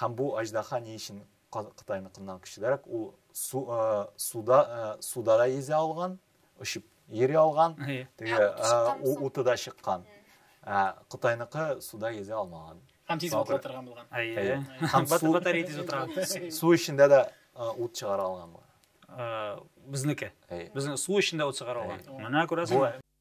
Һәм бу аҗдаһа ни өчен Кытайныкыннан көчлерәк? Ул су, э, суда, э, суда да йөзә алган, очып йөри алган, теге э, уты да чыккан. Ә Кытайныкы суда йөзә алмаган. Һәм тиз утыла торган булган. Әйе. Һәм су батарея тиз утыра. Су эчендә дә э, ут чыгара алган булган. Э, безнеке. Безнең су эчендә ут чыгара алган. Менә күрәсең.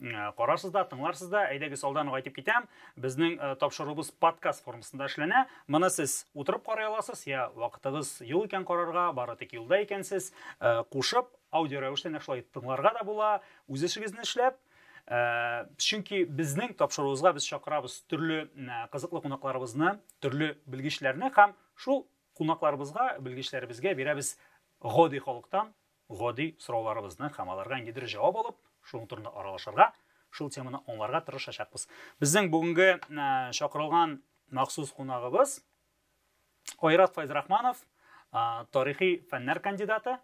Ә, карарсыз да, тыңларсыз да, әйдәгез алдан ук әйтеп китәм, безнең ә, тапшыруыбыз подкаст формасында эшләнә. Моны сез утырып карый аласыз, я вакытыгыз юк икән карарга, бары тик юлда икәнсез, ә, кушып аудио рәвештә нәкъ шулай тыңларга да була, үз эшегезне эшләп, Э, чөнки безнең тапшыруыбызга без чакырабыз төрле э, кызыклы кунакларыбызны төрле белгечләрне һәм шул кунакларыбызга белгечләребезгә бирәбез гади халыктан гади сорауларыбызны һәм аларга ниндидер җавап алып, шуның турында аралашырга, шул теманы аңларга тырышачакбыз. Безнең бүгенге чакырылган махсус кунагыбыз Айрат Файзрахманов, тарихи фәннәр кандидаты.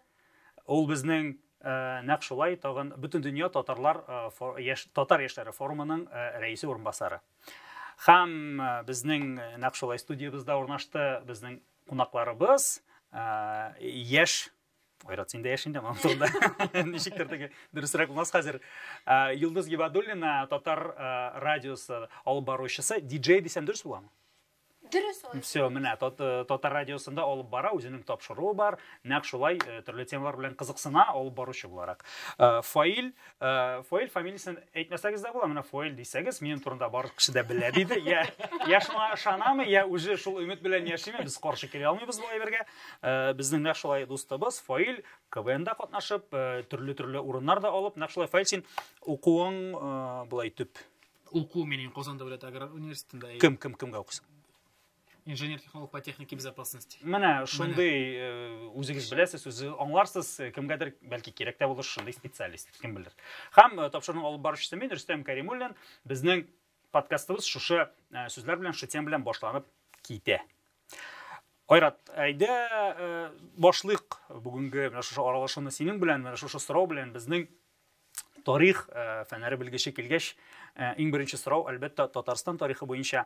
Ул безнең нәкъ шулай тагын бөтен дөнья татарлар яшь татар яшьләре форумының рәисе урынбасары. Һәм безнең нәкъ шулай студиябездә урнашты безнең кунакларыбыз яшь Айрат, син дә яшь инде, анан соң да ничектер теге дөресрәк булмас хәзер. Йолдыз Гибадуллина, татар радиосы алып баручысы, диджей дисәм дөрес буламы? Дөрес ул. Все, менә э, татар радиосында алып бара, үзенең тапшыруы бар, нәкъ шулай э, төрле темалар белән кызыксына алып баручы буларак. Э, Фаил Э, фоэль фамилиясен әйтмәсәгез дә була менә фоэль дисәгез минем турында барлык кеше дә белә диде я я шуңа ышанамы я үзе шул өмет белән яшиме без каршы килә алмыйбыз бу әйбергә э, безнең нәкъ шулай дустыбыз фоэль квнда катнашып э, төрле төрле урыннар да алып нәкъ шулай фоэль син укуың болай төп уку менен казан дәүләт аграр университетында кем кем кемгә укыйсың инженер технолог по технике безопасности менә шундый э, үзегез беләсез үзе аңларсыз э, кемгәдер бәлки кирәк тә булыр шундый специалист кем белер һәм э, тапшыруның алып баручысы мин рөстәм кәримуллин безнең подкастыбыз шушы сүзләр белән шушы тема белән башланып китә айрат әйдә башлыйк бүгенге менә шушы аралашуны синең белән менә шушы сорау белән безнең Тарих фәнәре белгече килгәч, иң беренче сорау, әлбәттә, Татарстан тарихы буенча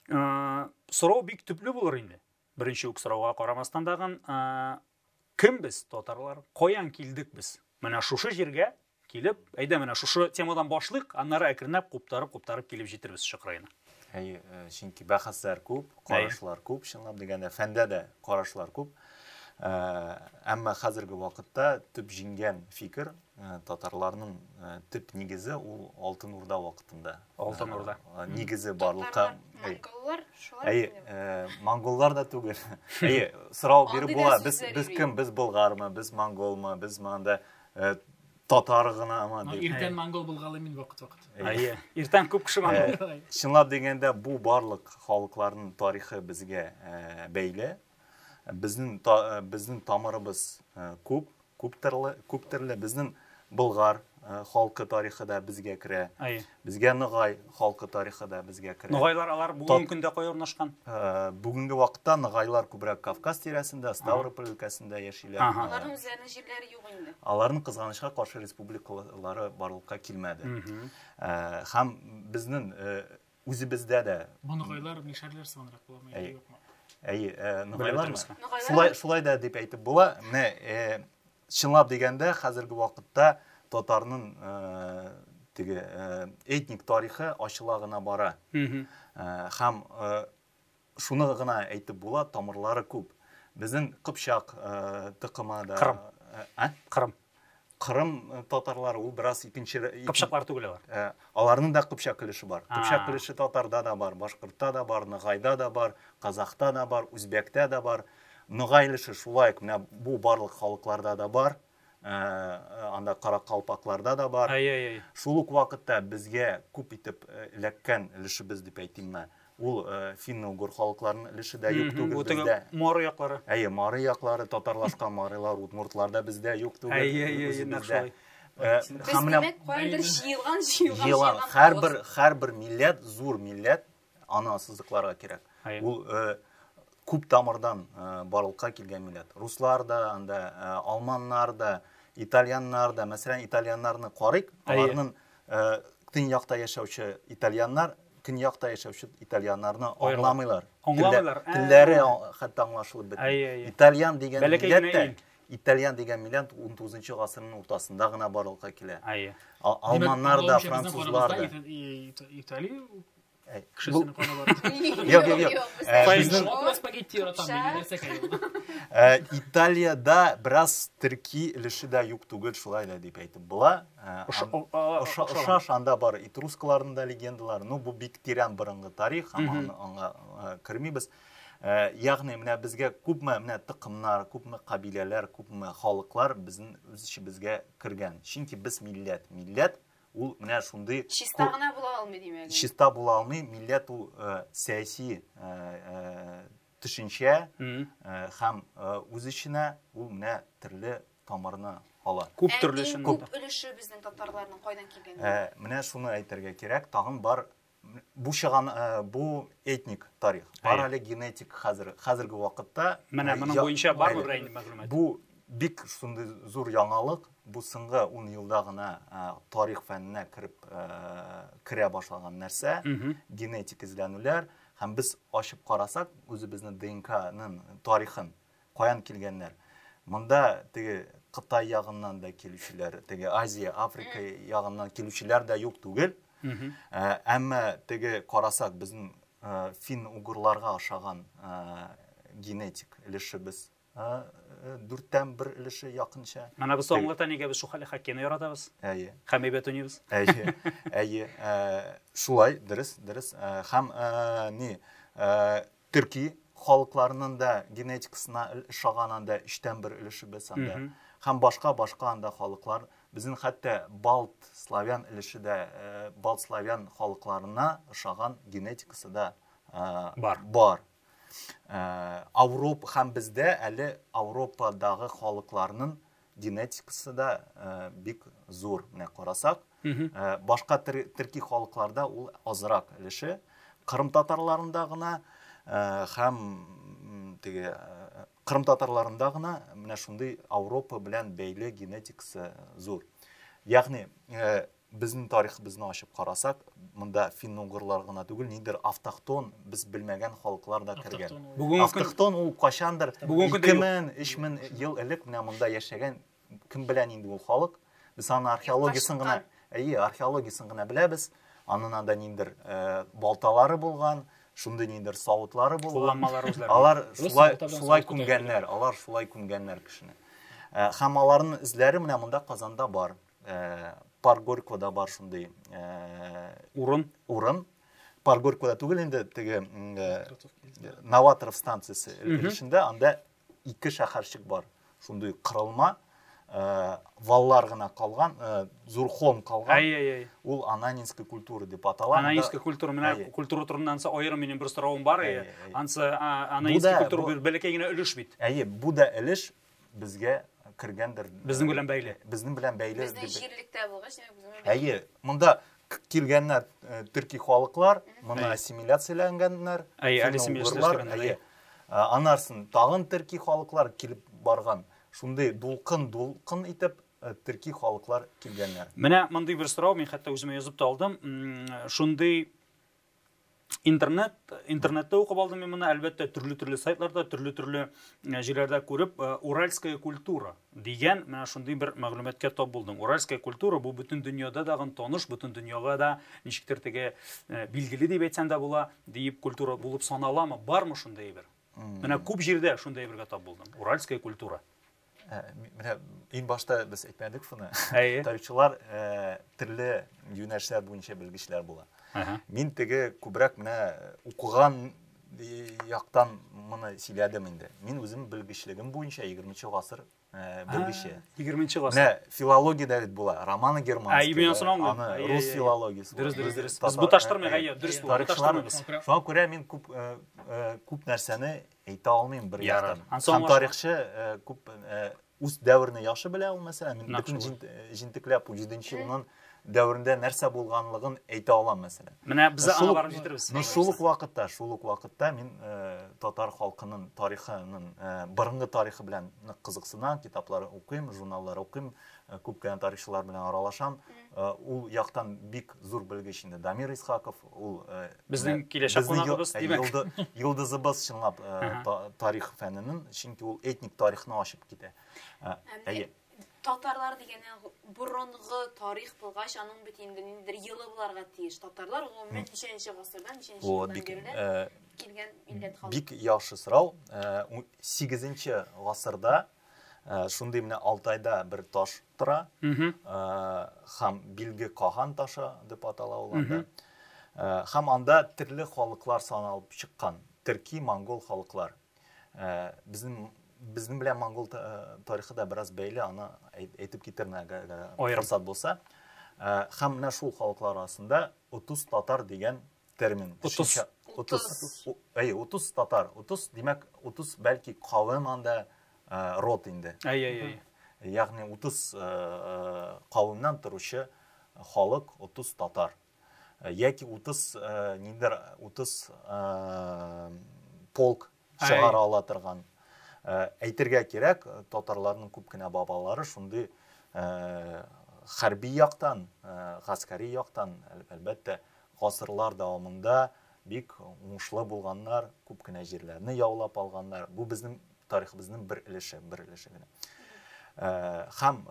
сорау бик төпле булыр инде. Беренче үк сорауга карамастан тагын, кем без, татарлар, каян килдек без? Менә шушы җиргә килеп, әйдә менә шушы темадан башлыйк, аннары әкренләп куптарып-куптарып килеп җитербез Чыкраена. Әйе, э, чөнки бәхәсләр күп, карашлар күп, чынлап дигәндә, фәндә дә карашлар күп. Э, әмма хәзерге вакытта төп җиңгән фикер э, татарларның э, төп нигезе ул Алтын Урда вакытында. Алтын Урда. Нигезе барлыкка. Монголлар шулай. Әйе, монголлар да түгел. Әйе, сорау биреп була, без без кем, без болгармы, без монголмы, без монда Татар гынамы дип. Иртән монгол булгалый мин вакыт-вакыт. Әйе. Иртән күп кеше монгол. Чынлап дигәндә, бу барлык халыкларның тарихы безгә бәйле. Безнең безнең тамырыбыз күп, күп төрле, күп төрле. Безнең болгар халкы тарихы да безгә керә. Безгә Ныгай халкы тарихы да безгә керә. Ныгайлар алар бүгенге көндә кая урнашкан? Э, бүгенге вакытта Ныгайлар күбрәк Кавказ тирәсендә, Ставрополь өлкәсендә яшиләр. Аларның үзләренең җирләре юк инде. Аларның кызганычка каршы республикалары барлыкка килмәде. Э, һәм безнең э, үзебездә дә Ныгайлар мишәрләр сыгынрак буламы яки юкмы? Әйе, Ныгайлар. Шулай шулай да дип әйтеп була. Менә Чынлап дигәндә, хәзерге вакытта татарның теге этник тарихы ачыла гына бара. Һәм шуны гына әйтеп була, тамырлары күп. Безнең Кыпчак тыкымы да. Кырым. Ә? Кырым. Кырым татарлары ул бераз икенче Кыпчаклар түгел алар. Аларның да кыпчак өлеше бар. Кыпчак өлеше татарда да бар, башкортта да бар, ногайда да бар, казахта да бар, үзбәктә да бар. Ногаилеше шулай ук менә бу барлык халыкларда да бар, э, э, анда каракалпакларда да бар. Әй, әй, әй. Шул ук вакытта безгә күп итеп э, эләккән өлешебез дип әйтим мә. Ул э, финно-угор халыкларының өлеше дә юк түгел Бу теге бездә. моры яклары. Әйе, мары яклары, татарлашкан марылар, удмуртлар да бездә юк түгел. Әйе, әйе, үзе нәкъ бездә. шулай. Э, Без, һәм менә димәк, каяндыр җыелган, җыелган, җыелган җыелган. Һәрбер һәрбер милләт зур милләт, Аны ассызыкларга кирәк. Ул күп тамырдан барлыкка килгән милләт. Руслар да, анда алманнар да, итальяннар да, мәсәлән, итальяннарны карыйк, аларның төньякта яшәүче итальяннар көньякта яшәүче итальяннарны аңламыйлар. Аңламыйлар. Телләре хәтта аңлашылып бетми. Итальян дигән милләт тә Итальян дигән милләт 19 гасырның уртасында гына барлыкка килә. Алманнар да, французлар да. Италия Кешесенең каны бар. Юк, юк, юк. Безнең Алла спагетти яратам, мин нәрсә кайгырдым. Италиядә бераз төрки өлеше дә юк түгел, шулай да дип әйтеп була. Оша шанда бар итрускаларның да легендалары. Ну, бу бик тирән борынгы тарих, аңа кермибез. Ягъни менә безгә күпме менә тыкымнар, күпме кабиләләр, күпме халыклар безнең үз ичебезгә кергән. Чөнки без милләт, милләт Ул менә шундый чиста гына була алмый димәк. Чиста була алмый, милләт ул э, сәяси э, э, төшенчә һәм үз эченә ул менә төрле тамырны ала. Күп төрле Күп өлеше безнең татарларның кайдан килгәне. Менә шуны әйтергә кирәк, тагын бар Бу чыган бу этник тарих. Бар әле генетик хәзер хәзерге вакытта. Менә моның буенча бар бер инде мәгълүмат. Бу бик шундый зур яңалык. Бу соңгы 10 елда гына тарих фәненә кереп керә башлаган нәрсә. Генетик эзләнүләр һәм без ачып карасак, үзебезнең ДНКның тарихын Каян килгәннәр? Монда теге Кытай ягыннан да килүчеләр, теге Азия, Африка ягыннан килүчеләр дә юк түгел. Ә, әмма теге карасак, безнең ә, фин-угырларга ошаган ә, генетик өлешебез ә, э, дүрттән бер өлеше якынча. Менә без соңгылыкта нигә без Шухали Хаккины яратабыз? Әйе. Һәм әйбәт уйныйбыз. Әйе. Әйе. Ә, шулай, дөрес, дөрес. Ә, һәм ә, ни, ә, төрки халыкларның да генетикасына ошаган анда өчтән бер өлешебез анда һәм башка башка анда халыклар безнең хәтта балт славян өлеше дә э, балт славян халыкларына ошаган генетикасы да э, бар бар э, Авроп һәм бездә әле Авропадагы халыкларның генетикасы да э, бик зур менә карасак э, башка төрки халыкларда ул азрак өлеше кырым татарларында гына э, һәм теге кырым татарларында гына менә шундый ауропа белән бәйле генетикасы зур ягъни Безнең тарихыбызны ачып карасак, монда финно-угырлар гына түгел, ниндидер автохтон, без белмәгән халыклар да кергән. Автохтон ул качандыр 2000, 3000 ел элек менә монда яшәгән, кем белә нинди ул халык. Без аны археологиясен гына, әйе, археологиясен гына беләбез. Анын анда ниндидер э, балталары булган, шундый ниндидер савытлары булган. Алар шулай шулай күмгәннәр, алар шулай күмгәннәр кешене. Э, һәм аларның эзләре менә монда Казанда бар. Парк Горького бар шундый. Урын. Урын. Парк Горького түгел инде, теге Новаторов станциясе өлешендә, анда ике шәһәрчек бар. Шундый кырылма, Э, валлар гына калган э, зур холм калган әй әй әй ул ананинская культура деп атала ананинская культура менә культура турында ансы аерым минем бер соравым бар әйе ансы ананинская культура бер бәләкәй генә өлеш бит әйе бу да өлеш безгә кергәндер. Безнең белән бәйле. Безнең белән бәйле. Безнең җирлектә булгач, безнең. Әйе, монда килгәннәр э, төрки халыклар, моны ассимиляцияләнгәннәр. Әйе, ассимиляцияләнгәннәр. Әйе. Э, Анарсын тагын төрки халыклар килеп барган. Шундый дулкын, дулкын итеп э, төрки халыклар килгәннәр. Менә мондый бер сорау, мин хәтта үземә язып та алдым. Шундый интернет интернетта укып алдым мин моны әлбәттә төрле төрле сайтларда төрле төрле э, җирләрдә күреп э, уральская культура дигән менә шундый бер мәгълүматка тап булдым уральская культура бу бөтен дөньяда дагын таныш бөтен дөньяга да ничектер теге э, билгеле дип әйтсәң дә була диеп культура булып саналамы бармы шундый әйбер менә күп җирдә шундый әйбергә тап булдым уральская культура Ә, менә иң башта без әйтмәдек шуны. Әйе. Тарихчылар ә, төрле юнәлешләр буенча белгечләр була. Ага. Мин теге күбрәк менә укыган яктан моны сөйләдем инде. Мин үзем белгечлегем буенча 20 гасыр белгече. 20 гасыр. Менә филология дә бит була. Романа Германская. Әйе, мин соңгы. Аны рус филологиясе. Дөрес, дөрес, дөрес. Без бу таштырмыйк, әйе, дөрес бу. Тарихчылар. Шуңа күрә мин күп күп нәрсәне әйтә алмыйм бер яктан. Һәм тарихчы э, күп э, үз дәверне яхшы белә ул мәсәлән. Мин бөтен э, җентекләп 7-нче елның дәверендә нәрсә булганлыгын әйтә алам мәсәлән. Менә без аңа барып җитербез. Ну шул ук вакытта, шул ук вакытта мин татар халкының тарихының борынгы тарихы белән нык кызыксынам, китаплар укыйм, журналлар укыйм, күп кенә тарихчылар белән аралашам. Ул яктан бик зур белгеч инде Дамир Исхаков, Ул безнең киләчәк кунагыбыз, димәк. Йолдызыбыз чынлап тарих фәненен, чөнки ул этник тарихны ачып китә. Әйе. Татарлар дигәне борынгы тарих булгач, аның бит инде ниндидер елы буларга тиеш. Татарлар гомумән ничәнче гасырдан, ничәнче елдан бирле килгән милләт халык. Бик яхшы сорау. 8 гасырда Шундый менә Алтайда бер таш тора, хам билге Каган ташы дип атала ул анда. Хам анда терле халыклар саналып чыккан, терки, монгол халыклар. Безнең безнең белән монгол тарихы да бераз бәйле, аны әйтеп китермен әгәр форсат булса. Хам менә шул халыклар арасында Утус татар дигән термин. Утыз. Утыз. Әйе, утыз татар. Утыз, димәк, утыз бәлки кавым анда рот инде. Әйе, әйе. Ягъни утыз кавымнан торучы халык утыз татар. Яки утыз ниндер утыз полк чыгара ала торган. Әйтергә кирәк, татарларның күп кенә бабалары шундый хәрби яктан, гаскәри яктан, әлбәттә, гасырлар дәвамында бик уңышлы булганнар, күп кенә җирләрне яулап алганнар. Бу безнең тарихыбызның бер өлеше, бер өлеше генә. Хәм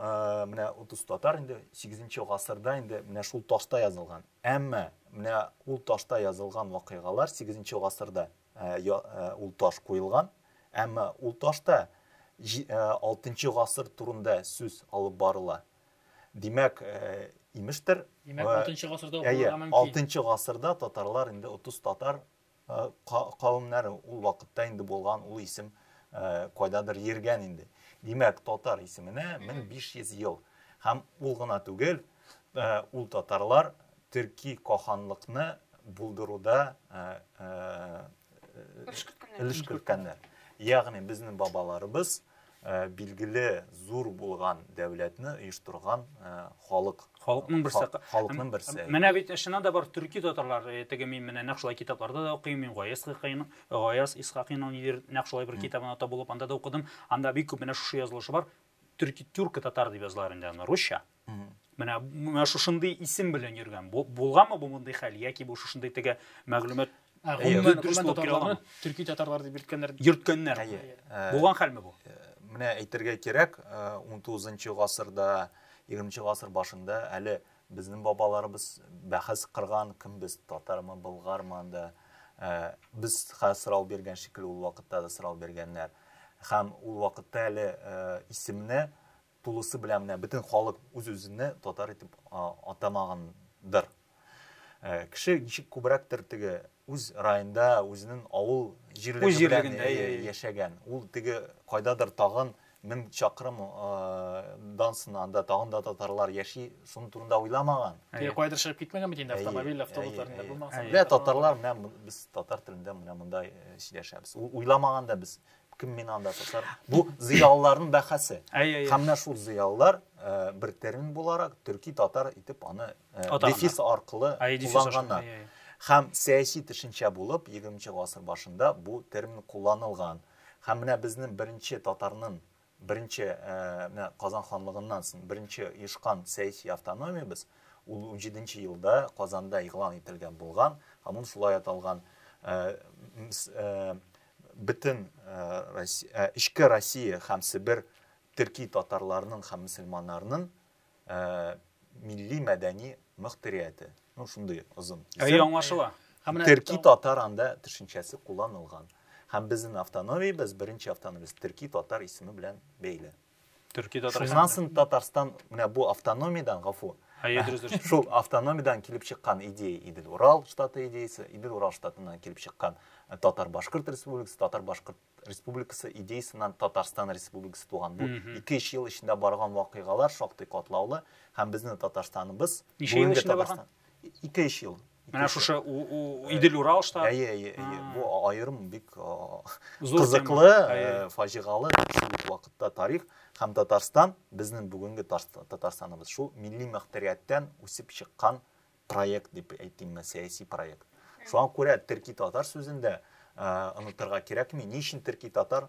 менә утыз татар инде 8-нче гасырда инде менә шул ташта язылган. Әмма менә ул ташта язылган вакыйгалар 8-нче гасырда Я ул таш куелган, әмма ул ташта алтынчы гасыр турында сүз алып барыла. Димәк, имештер, Димәк, 6 гасырда укылырга мөмкин. 6 гасырда татарлар инде 30 татар кавымнары ул вакытта инде булган ул исем кайдадыр йөргән инде. Димәк, татар исеменә 1500 ел. Һәм ул гына түгел, Ул татарлар төрки каханлыкны булдыруда өлеш керткәннәр. Ягъни безнең бабаларыбыз билгеле зур булган дәүләтне оештырган халык. Халыкның берсе. Халыкның берсе. Менә бит чыннан да бар төрки татарлар теге мин менә нәкъ шулай китапларда да укыйм, мин Гаяз Хыкыйның, Гаяз Исхакыйның нидер нәкъ шулай бер китабына табылып анда да укыдым. Анда бик күп менә шушы язылышы бар. Төрки тюрко татар дип язылар инде аны русча. менә менә шушындый исем белән йөргән булганмы бу мондый хәл яки бу шушындый теге мәгълүмат дөрес булып килә аламы төрки татарлар дип йөрткәннәр йөрткәннәр булган хәлме бу менә әйтергә кирәк ун тугызынчы гасырда егерменче гасыр башында әле безнең бабаларыбыз бәхәс кырган кем без татармы болгармы анда без сорау биргән шикелле ул вакытта да сорау биргәннәр һәм ул вакытта әле исемне тулысы белән менә бөтен халык үз-үзенә татар итеп атамагандыр. Э, кеше ничек күбрәктер теге үз районда, үзенең авыл җирлеге белән яшәгән. Ул теге кайдадыр тагын мең чакрым дан сынанда тагын да татарлар яши, шуның турында уйламаган. Теге кайдыр чыгып китмәгән бит инде автомобиль, автобусларында булмаган. Менә татарлар менә без татар телендә менә монда сөйләшәбез. Уйламаган да без кем миңа анда сатар бу зыялыларның бәхәсе һәм менә шул зыялылар э, бер термин буларак төрки татар итеп аны э, дефис аркылы кулланганнар һәм сәяси төшенчә булып 20 гасыр башында бу термин кулланылган һәм менә безнең беренче татарның беренче э, менә казан ханлыгыннан соң беренче оешкан сәяси автономиябез ул 17 елда казанда игълан ителгән булган һәм ул шулай аталган Бөтен эчке Россия һәм Себер төрки татарларының һәм мөселманнарының милли мәдәни мөхтәрияте. Ну, шундый озын. Әй, аңлашыла. Төрки татар анда төшенчәсе кулланылган. Һәм безнең автономиябез, беренче автономиябез төрки татар исеме белән бәйле. Төркиядә утырган. Шуннан соң Татарстан менә бу автономиядән, гафу. Әйе, дөрес, дөрес. Шул автономиядән килеп чыккан идея Идел Урал штаты идеясе, Идел Урал штатыннан килеп чыккан э, Татар-Башкорт республикасы, Татар-Башкорт республикасы идеясеннән Татарстан республикасы туган. Бу 2-3 ел эчендә барган вакыйгалар шактый катлаулы һәм безнең Татарстаныбыз Ничә ел эчендә барган? ике өч ел менә шушы идел урал штат әйе әйе әйе бу аерым бик кызыклы фаҗигалы шул ук вакытта тарих һәм татарстан безнең бүгенге татарстаныбыз шул милли мөхтәрияттән үсеп чыккан проект дип әйтим мен сәяси проект шуңа күрә төрки татар сүзендә онытырга кирәкми ни өчен төрки татар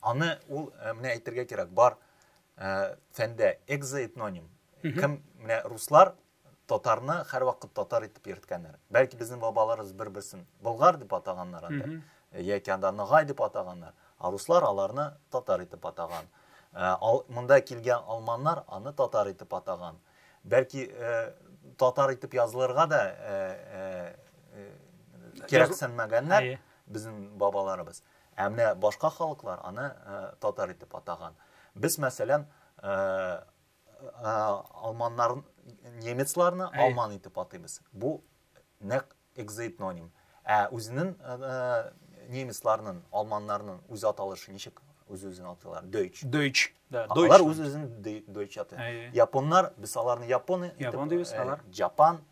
Аны ул э, менә әйтергә кирәк, бар э, фәндә экзоэтноним. Кем менә руслар татарны һәрвакыт татар итеп йөрткәннәр. Бәлки безнең бабаларыбыз бер-берсен болгар дип атаганнар анда. Э, яки анда ногай дип атаганнар. А руслар аларны татар итеп атаган. Э, ал, монда килгән алманнар аны татар итеп атаган. Бәлки э, татар итеп язылырга да э, э, э, кирәксенмәгәннәр безнең бабаларыбыз. Ә менә башка халыклар аны татар итеп атаган. Без, мәсәлән, алманнар, немецларны алман итеп атыйбыз. Бу нәк экзоэтноним. Ә үзенең немецларның, алманнарның үз аталышы ничек үз-үзен атыйлар? Дойч. Дойч. Да, Дойч. Алар үз-үзен Дойч аты. Японнар, без аларны японы итеп. Япон дибез, алар. Жапан.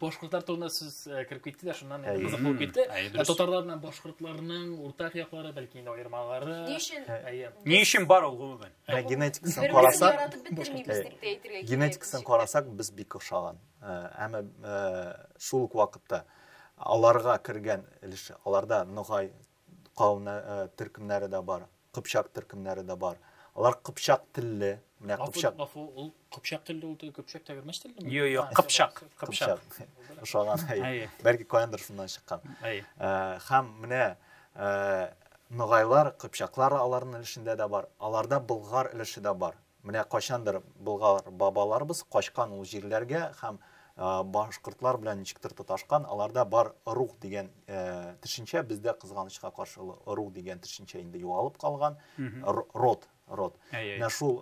башкортлар турында сүз кереп китте дә шуннан кызык булып китте татарлар белән башкортларның уртак яклары бәлки инде аермалары ни өчен ни өчен бар ул гомумән генетикасын карасак генетикасын карасак без бик ошаган әмма шул ук вакытта аларга кергән өлеше аларда ногай Кауна төркемнәре дә бар, кыпчак төркемнәре дә бар. Алар кыпчак телле. Менә кыпчак. Гафу, ул кыпчак телле, ул кыпчак тәгәрмәч теллеме? Юк, юк, кыпчак, кыпчак. Ошаган, әйе. Бәлки каяндыр шуннан чыккан. Әйе. Һәм менә ногайлар, кыпчаклар аларның өлешендә дә бар. Аларда болгар өлеше дә бар. Менә кайчандыр Болгар бабаларыбыз качкан ул җирләргә һәм башкортлар белән ничектер тоташкан, аларда бар рух дигән төшенчә, бездә кызганычка каршы рух дигән төшенчә инде югалып калган, род, род. Менә шул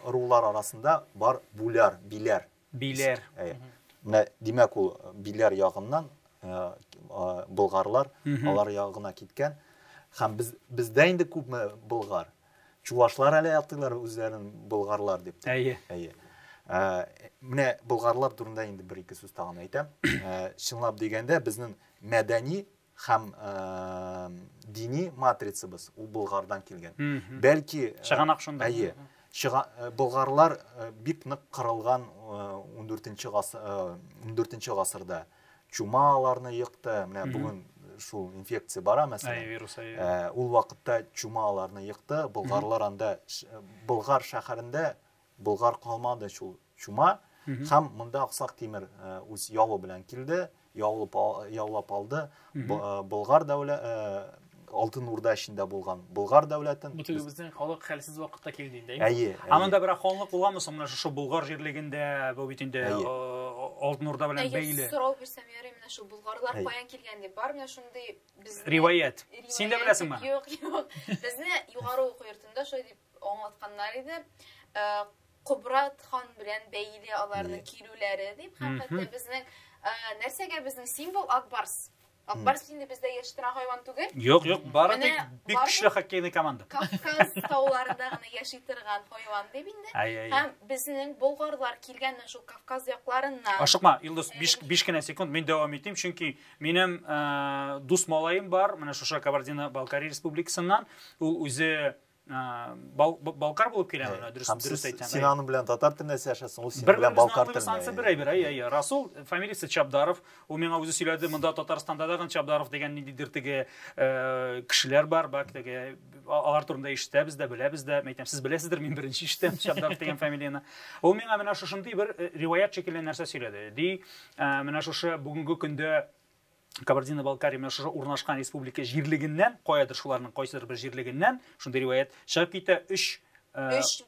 рулар арасында бар бүләр, биләр. Биләр. Әйе. Менә димәк ул биләр ягыннан болгарлар алар ягына киткән. Һәм без бездә инде күпме болгар. Чувашлар әле атыйлар үзләрен болгарлар дип. Әйе. Әйе. Менә болгарлар турында инде бер ике сүз тагын әйтәм. Чынлап дигәндә безнең мәдәни Һәм дини матрицабыз ул Болгардан килгән. Бәлки чыганак шунда. Әйе. Болгарлар бик нык кырылган 14-нче гасыр 14-нче гасырда чума аларны йыкты. Менә бүген шул инфекция бара мәсәлән. Әйе, вирус әйе. Ул вакытта чума аларны йыкты. Болгарлар анда Болгар шәһәрендә Болгар калмады шул чума һәм монда Аксак Тимер үз явы белән килде, яулып, яулап алды. Болгар дәүлә Алтын Урда эчендә булган Болгар дәүләтен. Бу теге безнең халык хәлсез вакытта килде инде. Әйе. Аның да бер ханлык булганмы соң менә шушы Болгар җирлегендә, бу бит инде Алтын Урда белән бәйле. Әйе, сорау бирсәм ярый менә шул Болгарлар каян килгән дип бар менә шундый без Риваять. Син дә беләсеңме? Юк, юк. Безне югары уку йортында шулай дип аңлатканнар иде. Э, Кубрат хан белән бәйле аларның килүләре дип, һәм хәтта безнең э, нәрсәгә безнең символ Акбарс. Акбарс инде бездә яшәтен хайван түгел. Юк, юк, бары тик бик көчле хоккейный команда. Кавказ тауларында гына яши торган хайван дип инде. Һәм безнең болгарлар килгән шул Кавказ якларыннан. Ашыкма, Илдус, 5 5 кенә секунд мин дәвам итим, чөнки минем э, дус малаем бар, менә шуша Кабардино-Балкария республикасыннан. Ул үзе балкар булып килә ана дөрес дөрес әйтсәң син аның белән татар телендә сөйләшәсең ул синең белән балкар телендә анысы бер әйбер әйе расул фамилиясе чабдаров ул миңа үзе сөйләде монда татарстанда да чабдаров дигән ниндидер теге кешеләр бар бак теге алар турында ишетәбез дә беләбез дә әйтәм сез беләсездер мин беренче ишетәм чабдаров дигән фамилияны ул миңа менә шушындый бер риваять шикелле нәрсә сөйләде ди менә шушы бүгенге көндә Кабардино-Балкария менә шушы урнашкан республика җирлегеннән, каядыр шуларның кайсыдыр бер җирлегеннән, шундый риваять, чыгып китә өч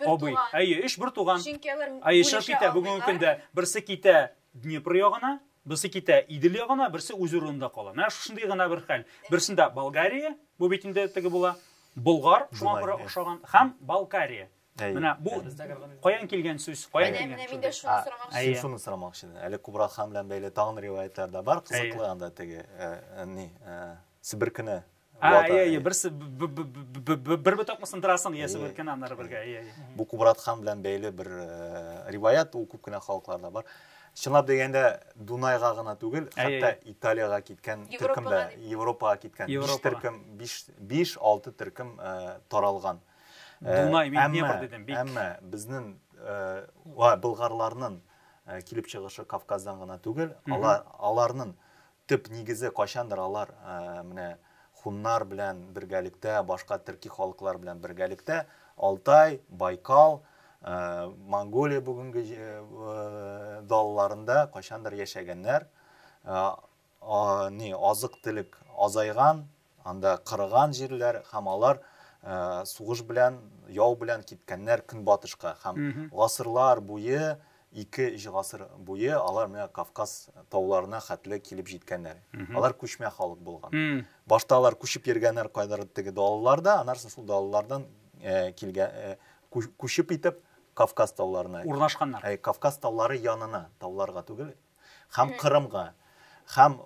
абый. Әйе, өч бер туган. Чөнки алар Әйе, чыгып китә бүгенге көндә. Берсе китә Днепр ягына, берсе китә Идел ягына, берсе үз урынында кала. Менә шушындый гына бер хәл. Берсендә Болгария, бу бит инде теге була, Болгар, шуңа күрә охшаган, һәм Балкария. Менә бу каян килгән сүз? Каян килгән? Менә мин дә шуны сорамакчы. Әйе, шуны сорамакчы. Әле Кубрат хан белән бәйле тагын риваятлар да бар. Кызыклы анда теге ни Себер көне. Әйе, әйе, берсе бер ботакны сындырасың, ия Себер көне аннары бергә. Әйе, әйе. Бу Кубрат хан белән бәйле бер риваят, ул күп кенә халыкларда бар. Чынлап дигәндә, Дунайга гына түгел, хәтта Италиягә киткән төркем дә, Европага киткән биш төркем, биш-алты төркем таралган. Дунай, мин әмма, Днепр дидем, бик. Әмма безнең э, ва болгарларның э, килеп чыгышы Кавказдан гына түгел, алар аларның төп нигезе кайчандыр алар э, менә хуннар белән бергәлектә, башка төрки халыклар белән бергәлектә Алтай, Байкал, э, Монголия бүгенге э, далаларында кайчандыр яшәгәннәр. Э, а, ни, азык-төлек азайган, анда кырыган җирләр һәм алар ә, сугыш белән, яу белән киткәннәр көнбатышка һәм гасырлар буе, ике-өч гасыр буе алар менә Кавказ тауларына хәтле килеп җиткәннәр. Алар күчмә халык булган. Башта алар күчеп йөргәннәр кайдадыр теге далаларда, аннары шул далалардан ә, килгән ә, күчеп итеп Кавказ тауларына. Урнашканнар. Ә, Кавказ таулары янына, тауларга түгел, Хәм Кырымга, хәм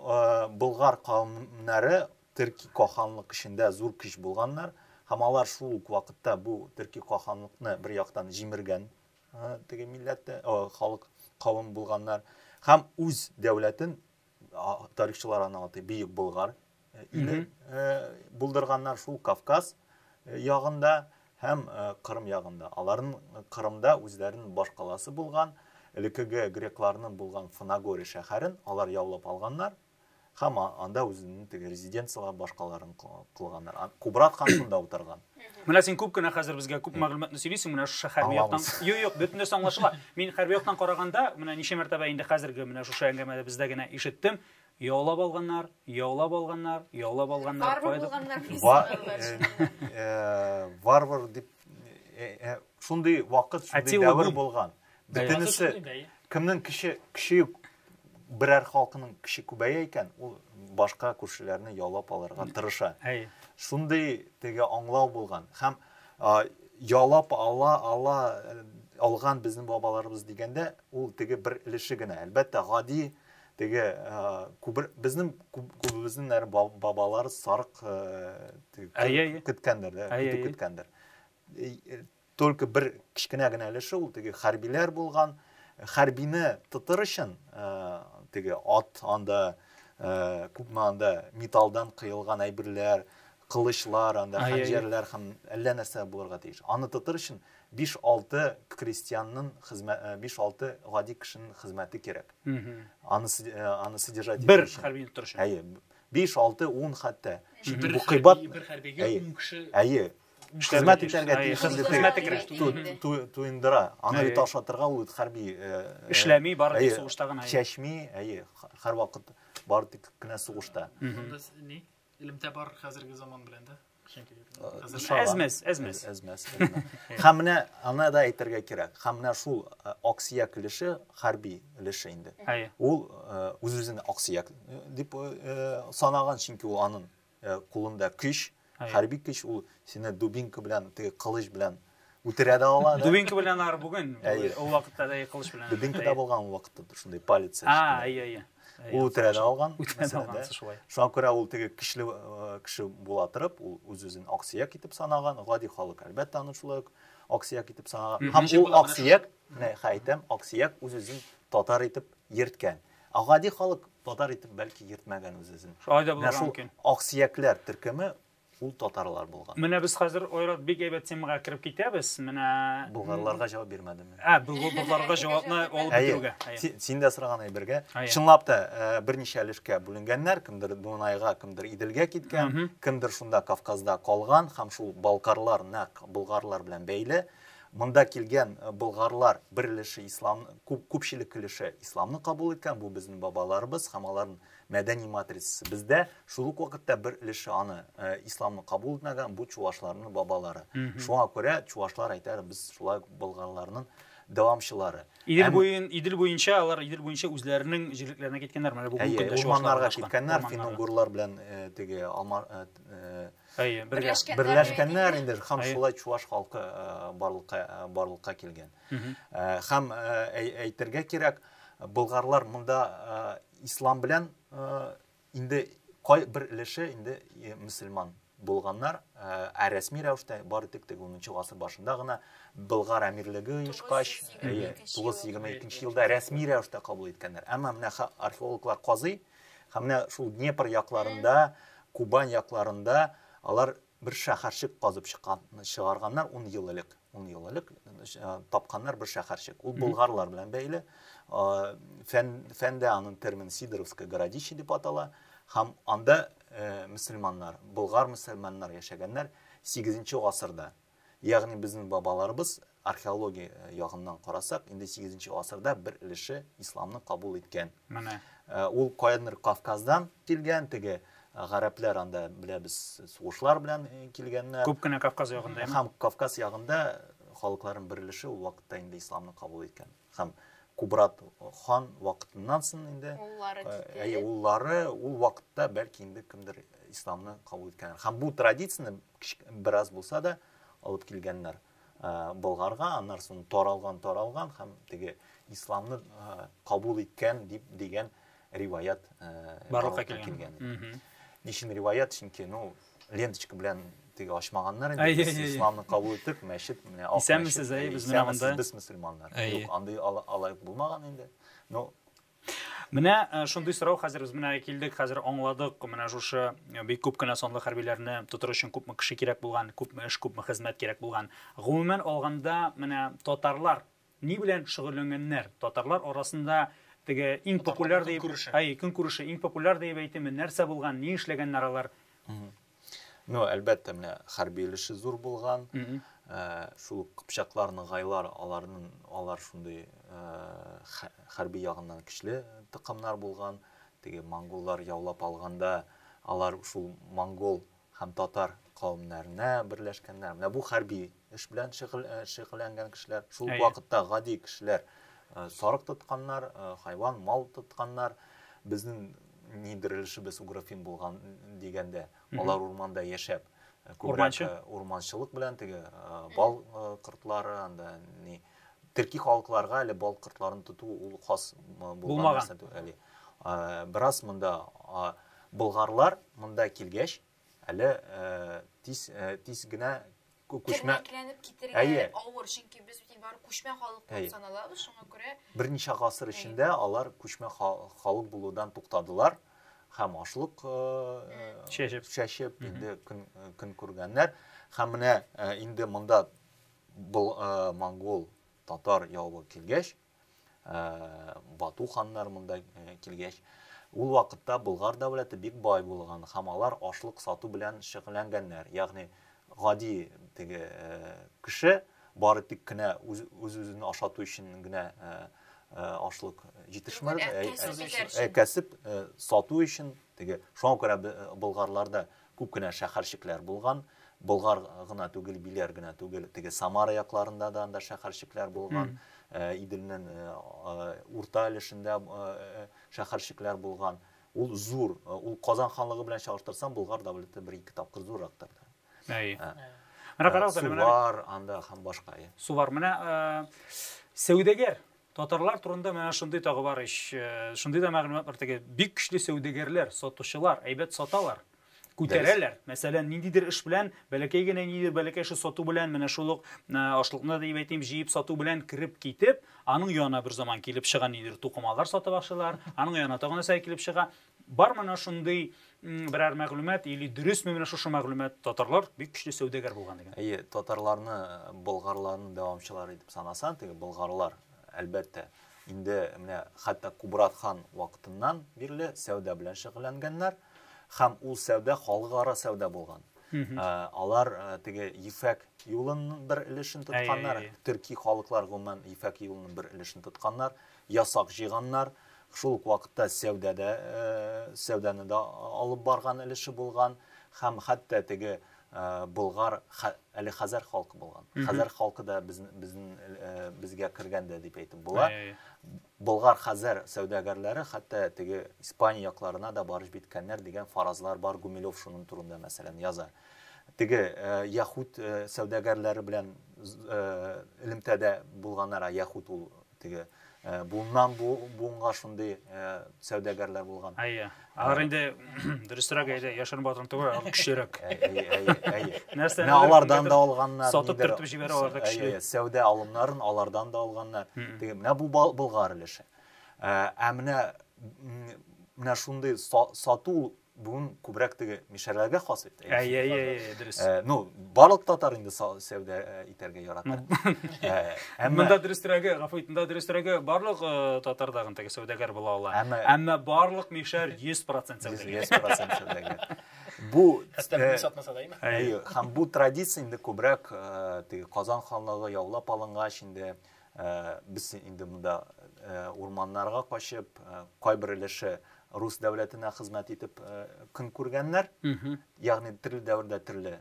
Болгар кавымнары Төрки каханлык эчендә зур көч булганнар, хәм алар шул ук вакытта бу Төрки каханлыкны бер яктан җимергән теге милләттә, халык кавым булганнар, хәм үз дәүләтен тарихчылар аны атый Бөек Болгар иле булдырганнар шул Кавказ ягында һәм Кырым ягында. Аларын Кырымда үзләрен башкаласы булган, элекеге грекларның булган Фанагоре шәһәрен алар яулап алганнар һәм анда үзенең теге резиденцияләр башкаларын кылганнар. Кубрат хан шунда утырган. Менә син күп кенә хәзер безгә күп мәгълүматны сөйлисең, менә шушы хәрби яктан. Юк, юк, бөтен нәрсә аңлашыла. Мин хәрби яктан караганда, менә ничә мәртәбә инде хәзерге менә шушы әңгәмәдә бездә генә ишеттем, Яулап алганнар, яулап алганнар, яулап алганнар. Варвар булганнар дип санадылар. Варвар дип шундый вакыт, шундый дәвер булган. Бөтенесе кемнең кеше кеше берәр халкының кеше күбәя икән, ул башка күршеләрне яулап алырга тырыша. Шундый теге аңлау булган. Һәм яулап ала ала алган безнең бабаларыбыз дигәндә, ул теге бер өлеше генә. Әлбәттә, гади Теге күбер безнең күбебезнең нәр бабалар сарык көткәндер, көтү көткәндер. Только бер кечкенә генә өлеше ул теге хәрбиләр булган. Хәрбине тотыр өчен теге ат анда күпме анда металлдан кыелган әйберләр, кылычлар, анда хәнҗәрләр һәм әллә нәрсә булырга тиеш. Аны тотыр өчен биш-алты крестьянның хезмәт, биш-алты гади кешенең хезмәте кирәк. Аны аны содержать итү өчен. Бер хәрбине тотыр өчен. Әйе. Биш-алты, ун хәтта. Чөнки бу кыйбат. Бер хәрбигә ун кеше. Әйе. Хезмәт итәргә тиеш. Хезмәте кирәк. Туендыра. Аны бит ашатырга ул хәрби. Эшләми, бары тик сугышта гына. Чәчми, әйе. Һәрвакыт бары тик кенә сугышта. Анда ни? Илемтә бар хәзерге заман белән дә. Әзмәс, әзмәс. Әзмәс. Һәм менә аны да әйтергә кирәк. Һәм менә шул э, аксияк өлеше, хәрби өлеше инде. Ул үз-үзен э, аксияк э, дип санаган, чөнки ул аның кулында көч, хәрби көч, ул сине дубинка белән, теге кылыч белән үтерә дә ала да. Дубинка белән алар бүген, ул вакытта да кылыч белән. Дубинка да булган ул вакытта, шундый палец. А, әйе, әйе. Ул үтерә дә алган. Үтерә дә алган, шулай. Шуңа күрә ул теге көчле кеше була торып, ул үз-үзен аксөяк итеп санаган, гади халык, әлбәттә, аны шулай ук аксөяк итеп санаган. Һәм ул аксөяк, менә әйтәм, аксөяк үз-үзен татар итеп йөрткән. Ә гади халык татар итеп бәлки йөртмәгән үз-үзен. Шулай да булырга мөмкин. Аксөякләр төркеме Ул татарлар булган. Менә без хәзер, Айрат, бик әйбәт темага кереп китәбез. Менә Болгарларга җавап бирмәдем мин. Ә, болгарларга җавапны алып бетерүгә. Әйе. Син дә сораган әйбергә. Чынлап та, берничә өлешкә бүленгәннәр, кемдер Дунайга, кемдер Иделгә киткән, кемдер шунда Кавказда калган һәм шул балкарлар нәкъ болгарлар белән бәйле. Монда килгән болгарлар бер өлеше ислам, күпчелек өлеше исламны кабул иткән, бу безнең бабаларыбыз һәм алар Мәдәни матрицасы. Бездә шул ук вакытта бер өлеше аны э, исламны кабул итмәгән, бу чувашларның бабалары. Шуңа күрә чувашлар әйтәр, без шулай болганларның дәвамчылары. Идел Әм- буен, Идел буенча, алар Идел буенча үзләренең җирлекләренә киткәннәр. Менә бүгенге Әйе, көндә чуашлар урманнарга урнашкан. киткәннәр, Урманнарга. финугурлар белән э, теге алма э, э, Әйе, бергә. Берләшкән. берләшкәннәр инде һәм Әйе. шулай чуваш халкы э, барлыкка э, барлыкка килгән. Мгм. Э, Һәм э, әй- әйтергә кирәк, болгарлар монда э, ислам белән э, инде кай бер өлеше инде э, мөселман булганнар ә рәсми рәвештә бары тик теге унынчы гасыр башында гына болгар әмирлеге оешкач тугыз йөз егерме икенче елда рәсми рәвештә кабул иткәннәр әмма менә археологлар казый һәм менә шул днепр якларында кубань якларында алар Бер шәһәрчек казып чыккан, чыгарганнар ун ел элек, ун ел элек тапканнар бер шәһәрчек. Ул болгарлар белән бәйле. Фән, фәндә аның термин Сидоровское городище дип атала. Һәм анда э, мөселманнар, болгар мөселманнар яшәгәннәр 8 гасырда. Ягъни безнең бабаларыбыз Археология ягыннан карасак, инде 8 нче гасырда бер өлеше исламны кабул иткән. Менә. Э, ул каядыр Кавказдан килгән, теге э, гарәпләр анда беләбез сугышлар белән э, килгәннәр. Күп кенә Кавказ ягында. Һәм Кавказ ягында халыкларның бер өлеше ул вакытта инде исламны кабул иткән. Һәм Кубрат хан вакытыннан соң инде әйе уллары ул вакытта бәлки инде кемдер исламны кабул иткәннәр. Һәм бу традицияне бераз булса да алып килгәннәр. Болгарга, аннары соң таралган, таралган һәм теге исламны кабул иткән дип дигән риваят барлыкка килгән. Ничен риваят, чөнки, ну, ленточка белән теге ачмаганнар инде, исламны кабул иттек, мәчет, менә ак мәчет. Исәнмесез, әйе, без менә монда. Без мөселманнар. Юк, андый алай булмаган инде. Ну, Менә э, шундый сорау хәзер без менә килдек, хәзер аңладык, менә шушы э, бик күп кенә санлы хәрбиләрне тотыр өчен күпме кеше кирәк булган, күпме эш, күпме хезмәт кирәк булган. Гомумән алганда, менә татарлар ни белән шөгыльләнгәннәр? Татарлар арасында теге иң популяр дип, әй, көнкүреше иң популяр дип әйтеме, нәрсә булган, ни эшләгәннәр алар? Ну, әлбәттә, менә хәрби өлеше зур булган. Э, шул кыпчаклар, ныгайлар, аларның алар шундый э, хәрби ягыннан көчле тыкымнар булган. Теге монголлар яулап алганда, алар шул монгол һәм татар кавемнәренә берләшкәннәр. Менә бу хәрби Эш белән шөгыльләнгән кешеләр, шул вакытта гади кешеләр, сарык тотканнар, хайван, мал тотканнар, безнең ни дөрелешебез угрофин булган дигәндә, алар урманда яшәп, күбрәк урманчылык белән теге бал кортлары, анда ни төрки халыкларга әле бал кортларын тоту ул хас булмаган нәрсә түгел. Бераз монда болгарлар монда килгәч, Әле тиз тиз генә күчмә тернәкләнеп китергә авыр, чөнки без бит бары күчмә халык булып саналабыз, шуңа күрә берничә гасыр эчендә алар күчмә халык булудан туктадылар һәм ашлык чәчеп чәчеп инде көн көн күргәннәр һәм менә инде монда монгол татар явы килгәч Бату ханнар монда килгәч, ул вакытта Болгар дәүләте бик бай булган һәм алар ашлык сату белән шөгыльләнгәннәр. Ягъни гади теге кеше бары тик кенә үз-үзен ашату өчен генә ашлык җитешмәде, ә кәсеп сату өчен теге. Шуңа күрә Болгарда Күп кенә шәхәрчекләр булган. Болгар гына түгел, Биләр генә түгел, теге Самара якларында да анда шәхәрчекләр булган. Э, Иделнең э, э, урта өлешендә шәхәрчекләр булган. Ул зур, ул Казан ханлыгы белән чагыштырсаң, Болгар дәүләте бер ике тапкыр зуррактыр да. Әй. Менә карагыз әле, менә. Сувар анда һәм башка. Сувар. Менә сәүдәгәр Татарлар турында менә шундый тагы бар ич. Э, шундый да мәгълүмат бар теге бик көчле сәүдәгәрләр, сатучылар, әйбәт саталар. Күтәрәләр. Мәсәлән, ниндидер эш белән, бәләкәй генә ниндидер бәләкәй эше сату белән, менә шул ук э, ашлыкны дип әйтим, җыеп сату белән кереп китеп, аның янына бер заман килеп чыга ниндидер тукымалар сатып ашылар, аның янына тагын нәрсә килеп чыга. Бар мына шундый берәр мәгълүмат или дөресме менә шушы мәгълүмат? Татарлар бик көчле сәүдәгәр булган дигән. Әйе, татарларны э, болгарларның дәвамчылары дип санасаң, теге болгарлар, әлбәттә, инде менә хәтта Кубрат хан вакытыннан бирле сәүдә белән шөгыльләнгәннәр һәм ул сәүдә халыкара сәүдә булган. Ә, алар ә, теге Ефәк юлының бер өлешен тотканнар, төрки халыклар гомумән Ефәк юлының бер өлешен тотканнар ясак җыйганнар, шул ук вакытта сәүдә дә, сәүдәне дә алып барган өлеше булган һәм хәтта теге болгар, әле хәзәр халкы булган. Хәзәр халкы да безнең безгә кергән дә дип әйтеп була. Болгар, хәзәр сәүдәгәрләре хәтта теге Испания якларына да барып җиткәннәр дигән фаразлар бар. Гумилев шуның турында, мәсәлән, яза. Теге яһүд сәүдәгәрләре белән элемтәдә булганнар, яһүд ул Теге буыннан буынга шундый сәүдәгәрләр булган. Әйе. Алар инде дөресрәк әйдә, яшерен батырын түгел, алар көчлерәк. Әйе, әйе, әйе. Нәрсә? Менә алардан да алганнар. Сатып төртеп җибәрә алар да көчле. Әйе, сәүдә алымнарын алардан да алганнар. Теге менә бу Болгар өлеше. Ә менә менә шундый сату Бүген күбрәк теге мишәрләргә хас бит. Әй, әй, әй, дөрес. Э, ну, барлык татар инде сәүдә э, итәргә ярата. Ну, э, әмма монда дөрестерәге, гафу ит, монда дөрестерәге барлык татар дагын теге сәүдәгәр була ала. Әмма әмма барлык мишәр 100% сәүдәгәр. 100% сәүдәгәр. Бу хәстәрлек сатмаса да име? Әй, һәм бу традиция инде күбрәк теге Казан ханлыгы яулап алынгач инде Без инде монда урманнарга качып, кайбер өлеше рус дәүләтенә хезмәт итеп көн күргәннәр. Ягъни төрле дәвердә төрле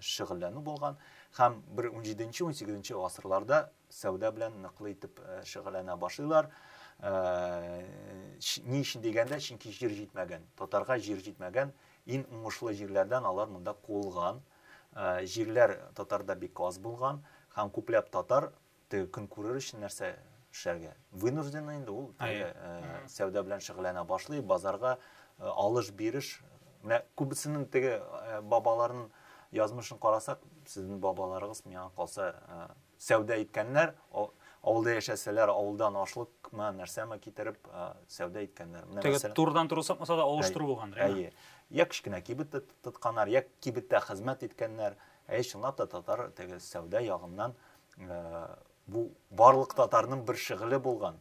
шөгыльләнү булган һәм бер 17-18 гасырларда сәүдә белән ныклы итеп шөгыльләнә башлыйлар. Ни өчен дигәндә, чөнки җир җитмәгән. Татарга җир җитмәгән. Иң уңышлы җирләрдән алар монда куылган. Җирләр татарда бик аз булган һәм күпләп татар теге көн күрер өчен нәрсә эшләргә? Вынужденный инде ул теге сәүдә белән шөгыльләнә башлый, базарга алыш-биреш. Менә күбесенең теге бабаларын язмышын карасак, сезнең бабаларыгыз миңа калса Сәүдә иткәннәр, авылда яшәсәләр, авылдан ашлыкмы, нәрсәме китереп, сәүдә иткәннәр. Менә мәсәлән. Теге турыдан туры сатмаса да алыштыру булгандыр, әйеме? Әйе. Йә кечкенә кибет тотканнар, йә кибеттә хезмәт иткәннәр. Әйе, чынлап та татар теге сәүдә ягыннан бу барлык татарның бер шөгыле булган.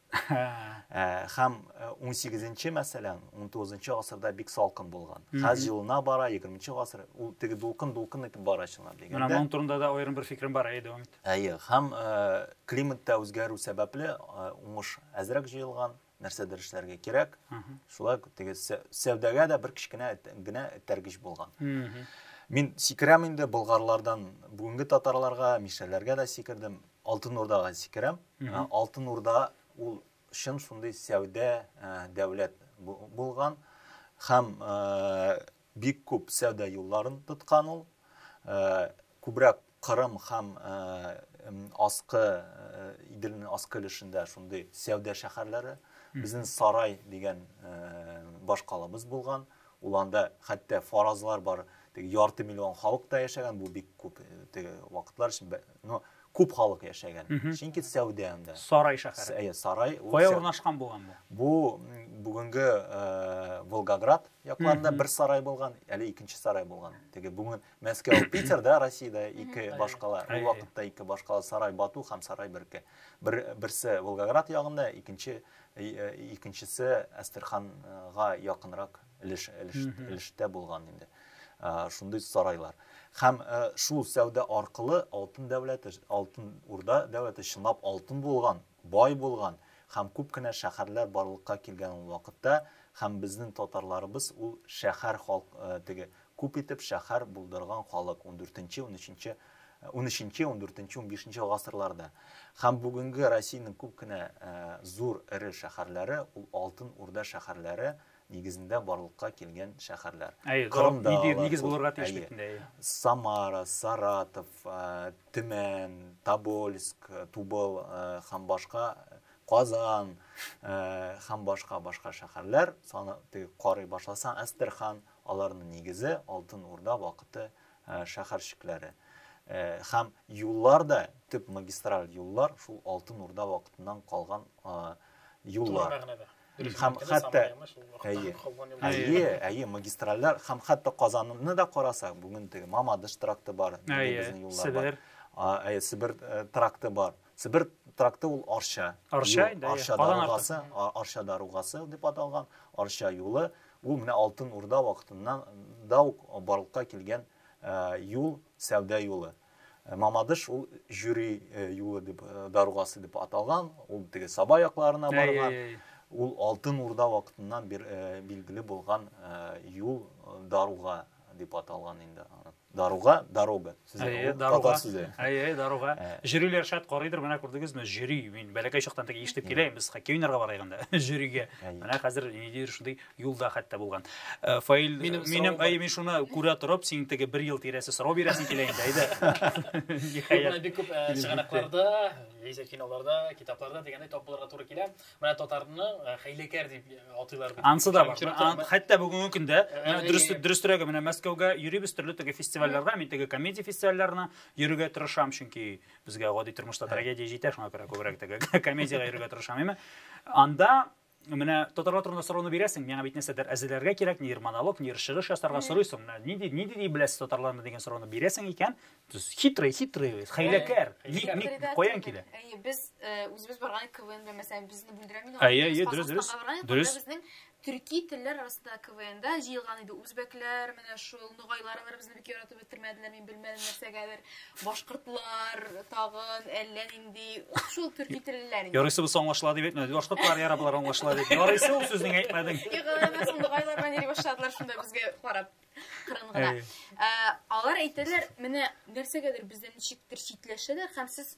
Хәм 18-нче, мәсәлән, 19-нчы гасырда бик салкын булган. Хәз җылына бара, 20-нчы гасыр, ул теге дулкын-дулкын итеп бара чынлап дигәндә. Менә моның турында да аерым бер фикерем бар, әйе, дәвам ит. Әйе, хәм климатта үзгәрү сәбәпле уңыш әзрәк җыелган, нәрсәдер эшләргә кирәк. Шулай теге сәүдәгә дә бер кечкенә генә этәргеч булган. Мин сикерәм инде болгарлардан бүгенге татарларга, мишәләргә дә сикердем. Алтын Урдага сикерәм. Алтын Урда ул чын шундый сәүдә дәүләт булган һәм бик күп сәүдә юлларын тоткан ул. Күбрәк Кырым һәм аскы Иделнең аскы өлешендә шундый сәүдә шәһәрләре. Безнең Сарай дигән башкалабыз булган. Ул анда хәтта фаразлар бар. Теге ярты миллион халык та яшәгән. Бу бик күп теге вакытлар өчен Но күп халык яшәгән. Чөнки сәүдә анда. Сарай шәһәре. Әйе, сарай. Кая урнашкан булган бу? Бу бүгенге э, Волгоград якларында бер сарай булган, әле икенче сарай булган. Теге бүген Мәскәү, Питер, да, Россиядә ике башкала. Ул вакытта ике башкала сарай Бату һәм сарай Берке. Бер, берсе Волгоград ягында, икенче э, икенчесе Әстерханга якынрак өлеш, өлеш, өлештә булган инде шундый сарайлар һәм шул сәүдә аркылы алтын дәүләте алтын урда дәүләте чынлап алтын булган бай булган һәм күп кенә шәһәрләр барлыкка килгән ул вакытта һәм безнең татарларыбыз ул шәһәр халк теге күп итеп шәһәр булдырган халык 14-нче 13-нче 13-нче 14-нче 15-нче гасырларда һәм бүгенге Россиянең күп кенә зур эре шәһәрләре ул алтын урда шәһәрләре нигезендә барлыкка килгән шәһәрләр. Әйе, Кырымда нидер нигез булырга тиеш бит инде. Самара, Саратов, Төмән, Тобольск, Тубыл һәм башка Казан һәм башка башка шәһәрләр саны карый башласаң, Әстерхан, аларның нигезе Алтын Урда вакыты шәһәрчекләре. Һәм юллар да, төп магистраль юллар шул Алтын Урда вакытыннан калган юллар. Хәм хәтта әйе. Әйе, әйе, магистральләр хәм хәтта Казанны да карасак, бүген теге Мамадыш тракты бар, безнең юллар бар. Әйе, Себер э, тракты бар. Себер тракты ул Арча. Арча, да, Арча даругасы, Арча даругасы дип аталган, Арча юлы. Ул менә Алтын Урда вакытыннан да ук барлыкка килгән э, юл, сәүдә юлы. Мамадыш ул жюри юлы дип даругасы дип аталган, ул теге Саба якларына барган. Ул Алтын Урда вакытыннан билгеле булган юл даруга дип аталган инде. Даруга, дорога сүзе, татар сүзе. Әйе, даруга. Жюриләр шат карыйдыр, менә күрдегезме, жюри. Мин бәләкәй чактан теге ишетеп киләм, без хоккей уйнарга барыйк анда, жюригә. Менә хәзер ниндидер шундый юлда хәтта булган э, фаил минем, минем әй мин шуны күрә торып син теге бер ел тирәсе сорау бирәсең килә инде әйдә ниһаять бик күп э, чыганакларда яисә киноларда китапларда дигәндәй тап булырга туры килә менә татарны э, хәйләкәр дип атыйлар ансы да бар хәтта бүгенге көндә дөрес дөресрәге менә мәскәүгә йөрибез төрле теге фестивальләргә мин теге комедия фестивальләренә йөрергә тырышам чөнки безгә гади тормышта трагедия җитә шуңа күрә күбрәк теге комедиягә йөрергә тырышам әмма анда Менә татарлар турында сорауны бирәсең, миңа бит нәрсәдер әзерләргә кирәк, нидер монолог, нидер чыгыш ясарга сорыйсың. Менә нинди нинди ди беләсез татарларны дигән сорауны бирәсең икән, хитрый, хитрый, хәйләкәр. Ник ник каян килә? Әйе, без э, үзебез барган КВН дә мәсәлән безне бүлдерә мин. Әйе, әйе, дөрес, дөрес. Дөрес. Безнең төрки телләр арасында КВНда җыелган иде. Үзбәкләр, менә шул нугайлар алар безне бик яратып бетермәделәр, мин белмәдем нәрсәгәдер. Башкортлар тагын әллә нинди ук шул төрки теллеләр. Ярыйсы без аңлашыла дип әйтмәде. Башкортлар яра болар аңлашыла дип. Ярыйсы ул сүзнең әйтмәдең. Юк, алар соңгы гайларга йөри башладылар шунда безгә карап. Кырын гына. Алар әйтәләр, менә нәрсәгәдер бездән ничектер читләшәләр һәм сез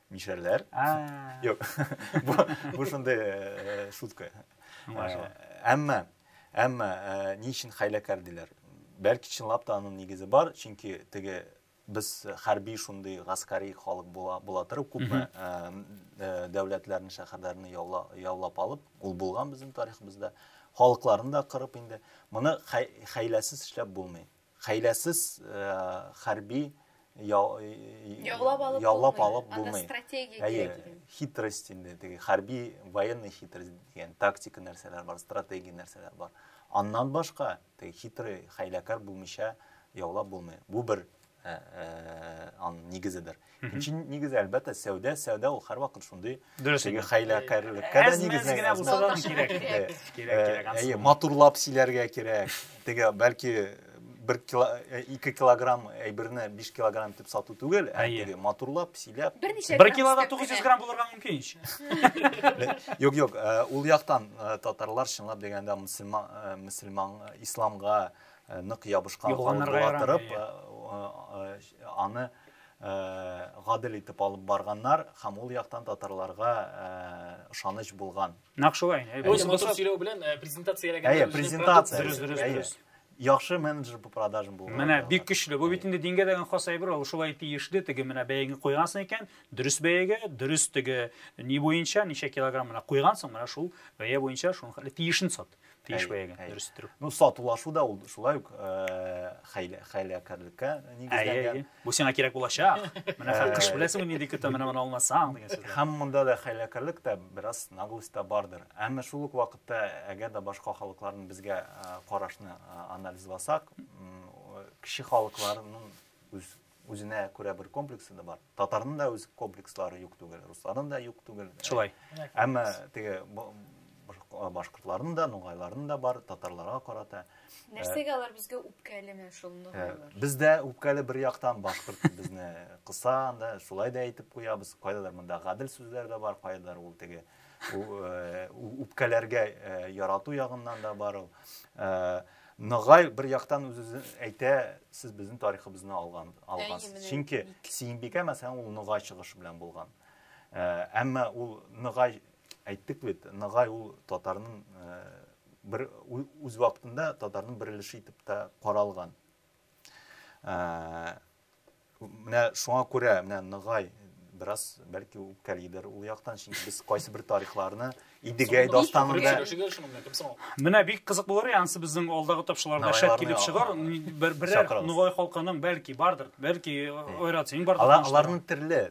Мишәрләр. Юк. Бу бу шундый э, шутка. Э, әмма әмма э, ни өчен хәйләкәр диләр? Бәлки чынлап та аның нигезе бар, чөнки теге без хәрби шундый гаскәри халык була, була торып күпме дәүләтләрне шәһәрләрне яулап алып ул булган безнең тарихыбызда халыкларны да кырып инде моны хәйләсез эшләп булмый Хәйләсез хәрби яулап алып булмый. Стратегия кирәк. Хитрость инде, теге хәрби военный хитрость дигән тактика нәрсәләр бар, стратегия нәрсәләр бар. Аннан башка теге хитрый, хәйләкәр булмыйча яулап булмый. Бу бер аның нигезедер. Икенче нигез әлбәттә сәүдә, сәүдә ул һәрвакыт шундый теге хәйләкәрлеккә дә нигезләнгән. Кирәк, кирәк, кирәк, кирәк. Әйе, матурлап сөйләргә кирәк. Теге бәлки бер кило, э, ике килограмм әйберне биш килограмм итеп сату түгел, ә теге матурлап, сөйләп. Бер килода 900 грамм булырга мөмкин ич. Юк, юк, э, ул яктан э, татарлар чынлап дигәндә мөселман, мөселман исламга нык ябышкан халык була торып, аны гадел итеп алып барганнар һәм ул яктан татарларга ышаныч булган. Нәкъ шулай. Өйсен матур сөйләү белән презентацияләгән. Әйе, презентация. Дөрес, дөрес, дөрес. Яхшы менеджер по продажам булган. Менә бик көчле. Бу бит инде дингә дигән хас әйбер, ул шулай тиешле, теге менә бәягә куйгансың икән, дөрес бәягә, дөрес теге ни буенча, ничә килограмм менә куйгансың, менә шул бәя буенча шуның тиешен сат. тиеш бәягә дөрес иттерү ну сатулашу да ул шулай ук хәйләкәрлеккә нигезләнгән бу сиңа кирәк булачак менә кыш беләсеңме нинди көтә менә моны алмасаң дигән сүз һәм монда да хәйләкәрлек тә бераз наглость та бардыр әмма шул ук вакытта әгәр дә башка халыкларның безгә карашны анализласак кеше халыкларының үз Үзенә күрә бер комплексы да бар. Татарның да үз комплекслары юк түгел, русларның да юк түгел. Шулай. Әмма теге башкортларның да, нугайларның да бар, татарларга карата. Нәрсәгә алар безгә үпкәле менә шул нугайлар? Без дә үпкәле бер яктан башкорт безне кыса, анда шулай да әйтеп куябыз. Кайдадыр монда гадел сүзләр дә бар, кайдадыр ул теге үпкәләргә ярату ягыннан да бар ул. Ногай бер яктан үз-үзен әйтә, сез безнең тарихыбызны алган, алгансыз. Чөнки Сиенбикә мәсәлән ул Ногай чыгышы белән булган. Әмма ул Ногай әйттек бит, Ногай ул татарның бер үз вакытында татарның бер өлеше итеп тә каралган. Менә шуңа күрә, менә Ныгай бераз бәлки үпкәлидер ул яктан, чөнки без кайсы бер тарихларны Идегәй дастанында Менә бик кызык булыр иде, ансы безнең алдагы тапшыларда шәт килеп чыгар, бер берәр Ныгай халкының бәлки бардыр, бәлки Ойрат синең бардыр. Аларның төрле,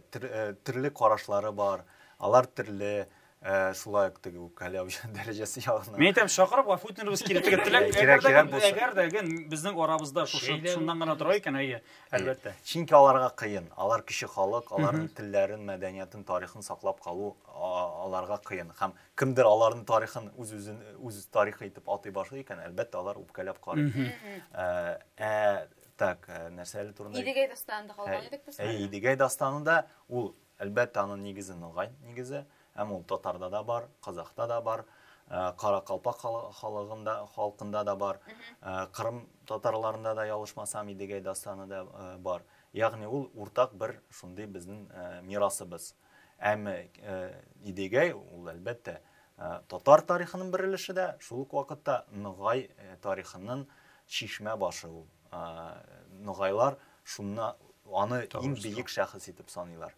төрле карашлары бар, алар төрле, Ә, шулай ук теге үпкәләү дәрәҗәсе ягына. Мин әйтәм, чакырып гафу үтенергез кирәк дип теләк. Әгәр дә әгәр дә ген безнең арабызда шушы шуннан гына тора икән, әйе, әлбәттә. Чөнки аларга кыен. Алар кеше халык, аларның телләрен, мәдәниятын, тарихын саклап калу аларга кыен. Һәм кемдер аларның тарихын үз-үзен үз тарихы итеп атый башлый икән, әлбәттә, алар үпкәләп карый. Ә так, нәрсә әле турында? Идегәй дастанында калган идек без. Әйе, Идегәй дастанында ул Әлбәттә, аның нигезе ногай нигезе, һәм ул татарда да бар, казахта да бар, э, каракалпак хал- халыгында, халкында да бар, э, кырым татарларында да, ялышмасам, Идегәй дастаны да э, бар. Ягъни ул уртак бер шундый безнең э, мирасыбыз. Әмма э, Идегәй ул, әлбәттә, э, татар тарихының бер өлеше дә, шул ук вакытта ногай э, тарихының чишмә башы ул. Э, Ногайлар Шунна аны иң биек шәхес итеп саныйлар.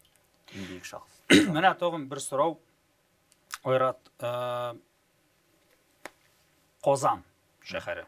Иң биек шәхес. Менә тагын бер сорау. Айрат, э, Казан шәһәре.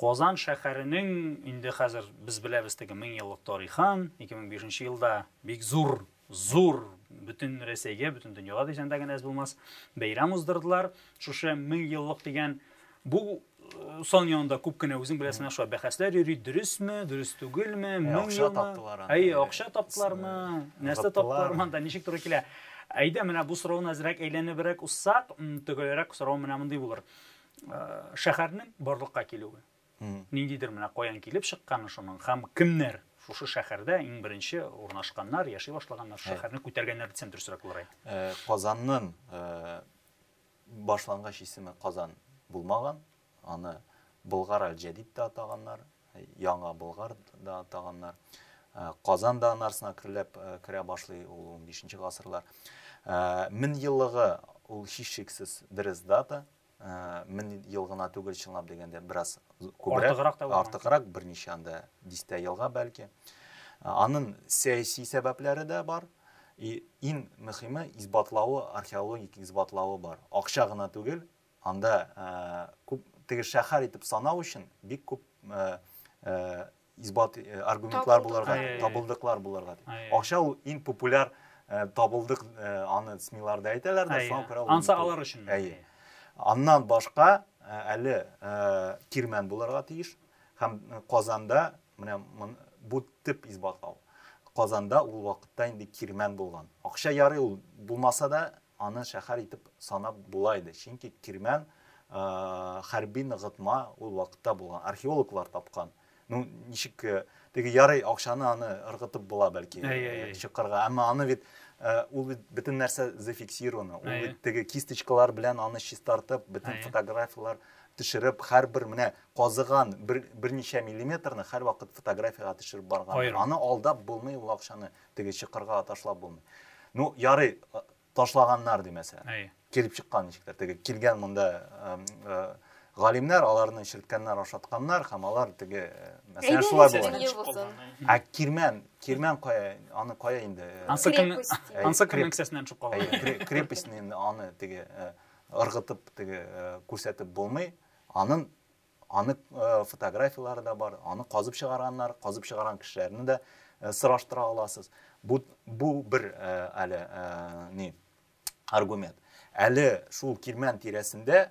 Казан шәһәренең инде хәзер без беләбез теге 1000 еллык тарихын, 2005 елда бик зур зур бөтен Рәсәйгә, бөтен дөньяга дисәң дә генә әз булмас, бәйрәм уздырдылар. Шушы 1000 еллык дигән бу э, сан янында күп кенә үзең беләсең шулай бәхәсләр йөри, дөресме, дөрес түгелме, 1000 елмы? Акча таптылар аны. Әй, акча таптылармы? Нәрсә таптылармы? Анда ничек туры килә? Әйдә, менә бу сорауны әзрәк әйләнебрәк уссак, төгәлрәк сорау менә мондый булыр. Э, шәһәрнең барлыкка килүе. Ниндидер менә каян килеп чыкканы шуның һәм кемнәр шушы шәһәрдә иң беренче урнашканнар, яши башлаганнар, шәһәрне күтәргәннәр дисәм дөресрәк булыр. Казаннын башлангыч исеме Казан булмаган, аны Болгар аль-Җәдид дә атаганнар, Яңа Болгар да атаганнар. Казан да аны арсына керләп керә башлый, ул унбишенче гасырлар. Меңьеллыгы ул һичшиксез дөрес дата, Мең ел гына түгел, чынлап дигәндә, бераз күбрәк. Артыграк та булган. Артыграк, берничә анда дистә елга бәлки. Анын сәяси сәбәпләре дә бар. И иң мөхиме исбатлавы, археологик исбатлавы бар. Акча гына түгел, анда күп теге шәһәр итеп санау өчен бик күп исбат э, аргументлар булырга табылдыклар булырга акча ул иң популяр э, табылдык э, аны смиларда әйтәләр дә шуңа күрә анса алар өчен әйе аннан башка әле кирмән булырга тиеш һәм казанда менә бу төп исбатлау казанда ул вакытта инде кирмән булган акча ярый ул булмаса да Аны шәһәр итеп санап була иде, чөнки Кирмән хәрби ныгытма ул вакытта булган, археологлар тапкан. Ну, ничек, теге ярый, акчаны аны ыргытып була бәлки чокырга, әмма аны бит, ул бит бөтен нәрсә зафиксировано, ул бит теге кисточкалар белән аны чистартып, бөтен фотографияләр төшереп, һәрбер менә казыган берничә миллиметрны һәрвакыт фотографиягә төшереп барган. Аны алдап булмый ул акчаны, Теге чокырга ташлап булмый. Ну, ярый, ташлаганнар ди мәсәлән. Әйе. Килеп чыккан ничектер. Теге килгән монда галимнәр аларны черткәннәр, ашатканнар һәм алар теге мәсәлән шулай булган. Ә кирмән, кирмән кая, аны кая инде? Ансы кем, ансы кем кесәсеннән төшеп калган. Крепостьне инде аны теге ыргытып теге күрсәтеп булмый. Анын Аның фотографияләре дә бар, аны казып чыгарганнар, казып чыгарган кешеләрне дә сораштыра аласыз. Бу, бу бер әле ни аргумент. Әле шул Кирмән тирәсендә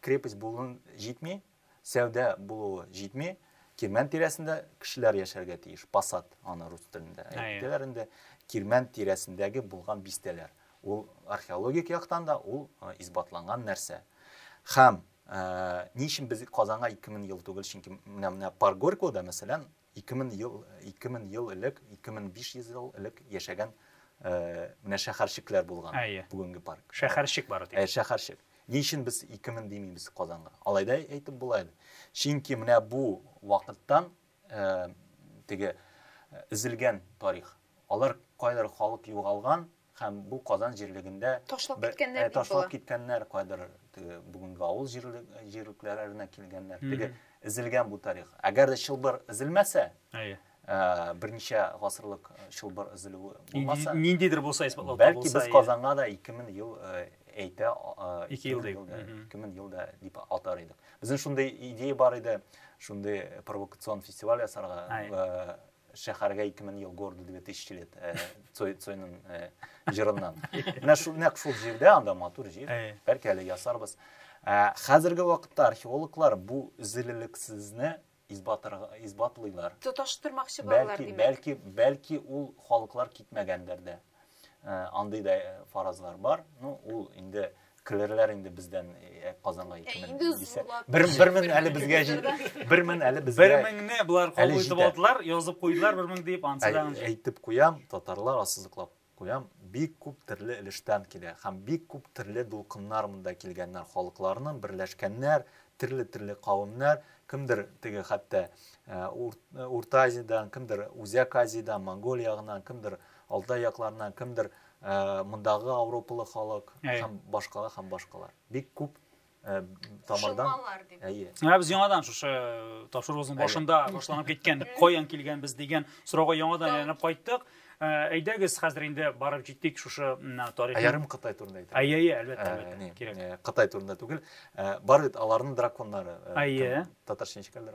крепость булуын җитми, сәүдә булуы җитми, Кирмән тирәсендә кешеләр яшәргә тиеш. Посад, аны рус телендә әйтәләр инде. Кирмән тирәсендәге булган бистәләр. Ул археологик яктан да ул исбатланган нәрсә. Хәм Ә, ни өчен без Казанга 2000 ел түгел? Чөнки менә менә Парк Горького-да, мәсәлән, 2000 ел 2000 ел элек, 2500 ел элек яшәгән э, менә шәһәрчекләр булган. Әйе. Бүгенге парк. Шәһәрчек бары тик. Ә, шәһәрчек. Ни өчен без 2000 димибез Казанга? Алай да әйтеп була иде. Чөнки менә бу вакыттан э, теге э, өзелгән тарих. Алар кайдыр халык югалган, Һәм бу Казан җирлегендә ташлап киткәннәр, ташлап киткәннәр, кайдыр теге бүгенге авыл җирлекләренә килгәннәр. Теге эзелгән бу тарих. Әгәр дә чылбыр эзелмәсә, әйе, берничә гасырлык чылбыр эзелүе булмаса, ниндидер булса исбатлау табылса, бәлки без Казанга да 2000 ел әйтә, 2 ел дип, 2000 ел да дип атар идек. Безнең шундый идея бар иде, шундый провокацион фестиваль ясарга, Шәһәргә ике мең ел городу две тысячи лет Цойның җырыннан. Менә шул нәкъ шул җирдә, анда матур җир, бәлки әле ясарбыз. Хәзерге вакытта археологлар бу зилелексезне исбатлыйлар. Тоташтырмакчы булалар димәк. Бәлки, бәлки, бәлки ул халыклар китмәгәндер дә. Андый да фаразлар бар. Ну, ул инде килерләр инде бездән Казанга 2000 дисә. 1000 әле безгә 1000 әле безгә. 1000-не болар кабул итеп алдылар, язып куйдылар 1000 дип ансыдан. Әйтеп куям, татарлар ассызыклап куям, бик күп төрле өлештән килә һәм бик күп төрле дулкыннар монда килгәннәр, халыкларның берләшкәннәр, төрле-төрле кавымнар, кемдер теге хәтта Урта Азиядән, кемдер Үзәк Азиядән, Монголия ягыннан, кемдер Алтай якларыннан кемдер мондагы ауропалы халык һәм башкалар һәм башкалар. Бик күп тамырдан әйе ә без яңадан шушы тапшыруыбызның башында башланып киткән каян килгәнбез дигән сорауга яңадан әйләнеп кайттык әйдәгез хәзер инде барып җиттек шушы тарих аярым кытай турында әйтә әйе әйе әлбәттә әлбәттә кирәк кытай турында түгел бар бит аларның драконнары әйе татарча ничек әле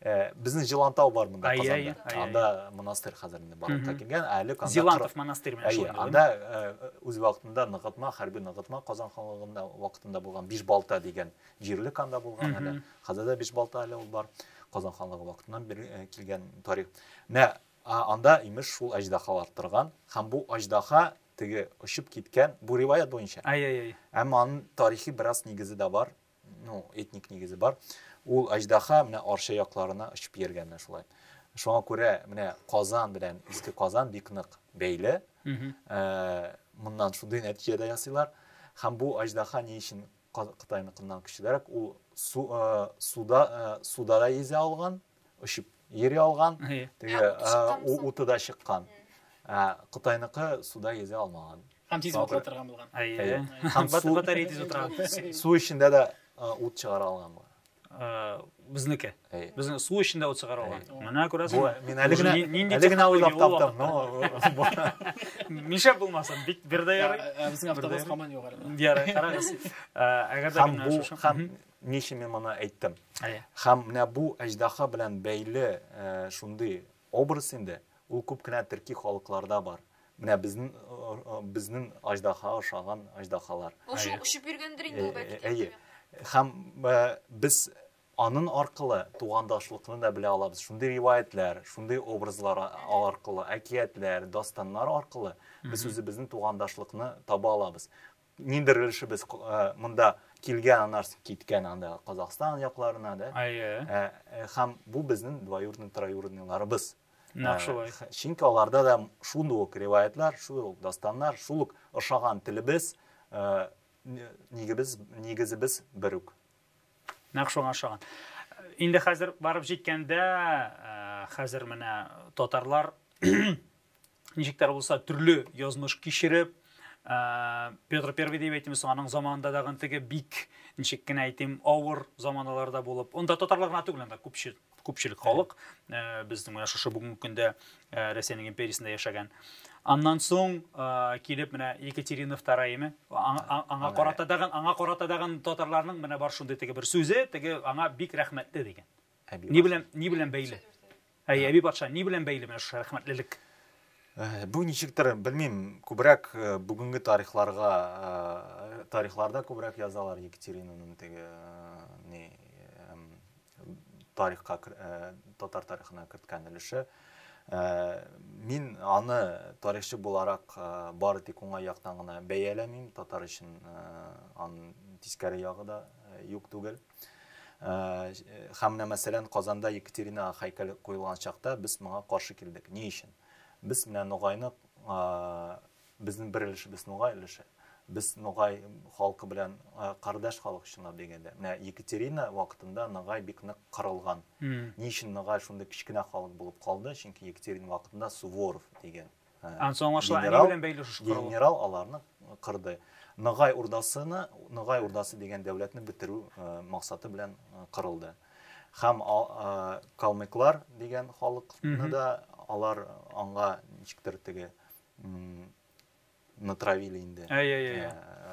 Э, безнең җылантау бар монда казанда анда монастырь хәзер инде барлыкка килгән әле анда зилантов монастырь менә шул анда э, үз вакытында ныгытма хәрби ныгытма казан ханлыгында вакытында булган биш балта дигән җирлек анда булган әле хәзер дә биш балта әле ул бар казан ханлыгы вакытыннан бер э, килгән тарих менә анда имеш шул әҗдахалар торган һәм бу аҗдаха теге очып киткән бу риваят буенча әй әй әй әмма аның тарихи бераз нигезе дә бар ну этник нигезе бар ул аждаха менә арча якларына очып йөргән менә шулай шуңа күрә менә казан белән иске казан бик нык бәйле ә, моннан шундый нәтиҗә дә ясыйлар һәм бу аждаха ни өчен кытайныкыннан көчлерәк ул су, ә, суда ә, суда да йөзә алган очып йөри алган, теге уты да чыккан. Ә Кытайныкы суда йөзә алмаган. Һәм тиз ватыла торган булган. Әйе. Һәм су батарея тиз утыра. Су эчендә дә ут чыгара алган булган. Э, безнеке безнең су эчендә ут чыгара алган менә күрәсеңме мин әле генә әле генә уйлап таптым нишләп булмасын бик бер дә ярый ә, ә, ә, безнең автобус һаман югары ярый карагыз әгәр дә һәм Ни өчен мин моны әйттем? Әйе. Һәм менә бу әҗдаһа белән бәйле шундый образ инде, ул күп кенә төрки халыкларда бар. Менә безнең безнең аҗдаһага ошаган аҗдаһалар. Ул шул очып йөргәндер инде ул бәлки. Әйе. Һәм без анын аркылы тугандашлыкны да белә алабыз. Шундый риваятьләр, шундый образлар аркылы, әкиятләр, дастаннар аркылы без үзебезнең тугандашлыкны таба алабыз. Ниндер өлешебез э, монда килгән, аннары соң киткән анда Казахстан якларына, да? Әйе. Ә, э, Һәм бу безнең двоюродный, троюродныйларыбыз. Нәкъ шулай. Э, чөнки аларда да шундый ук риваятлар, шул ук дастаннар, шул ук ошаган телебез, нигебез, нигезебез бер үк. Нәкъ шуңа ошаган. Инде хәзер барып җиткәндә, хәзер менә татарлар ничек тә булса төрле язмыш кичереп ә, петр первый дип әйтимез соң аның заманында дагы теге бик ничек кенә әйтим авыр заманаларда булып онда татарлар гына түгел анда күпчел күпчелек халык ә, безнең менә шушы бүгенге көндә ә, рәсәйнең империясендә яшәгән аннан соң ә, килеп менә екатерина втораяме аңа, аңа карата дагы аңа карата дагы татарларның менә бар шундый теге бер сүзе теге аңа бик рәхмәтле дигән Ни белән ни белән бәйле? Әй, әби патша, ни белән бәйле менә шушы рәхмәтлелек? Э, бу ничектер, белмим, күбрәк э, бүгенге тарихларга, э, тарихларда күбрәк язалар Екатеринаның теге ни тарихка татар тарихына керткән өлеше. Мин аны тарихчы буларак бары тик уңай яктан гына бәяләмим, татар өчен ан тискәре ягы да юк түгел. Һәм менә мәсәлән, Казанда Екатерина һәйкәле куелган чакта без моңа каршы килдек. Ни өчен? Без менә Ногайны безнең бер өлешебез Ногай өлеше. Без Ногай халкы белән кардәш халык чынлап дигәндә. Менә Екатерина вакытында Ногай бик нык кырылган. Ни өчен Ногай шундый кечкенә халык булып калды? Чөнки Екатерина вакытында Суворов дигән Генерал аларны кырды. Ногай Урдасыны, Ногай Урдасы дигән дәүләтне бетерү максаты белән кырылды. Һәм калмыклар дигән халыкны да алар аңа ничектер теге натравили инде.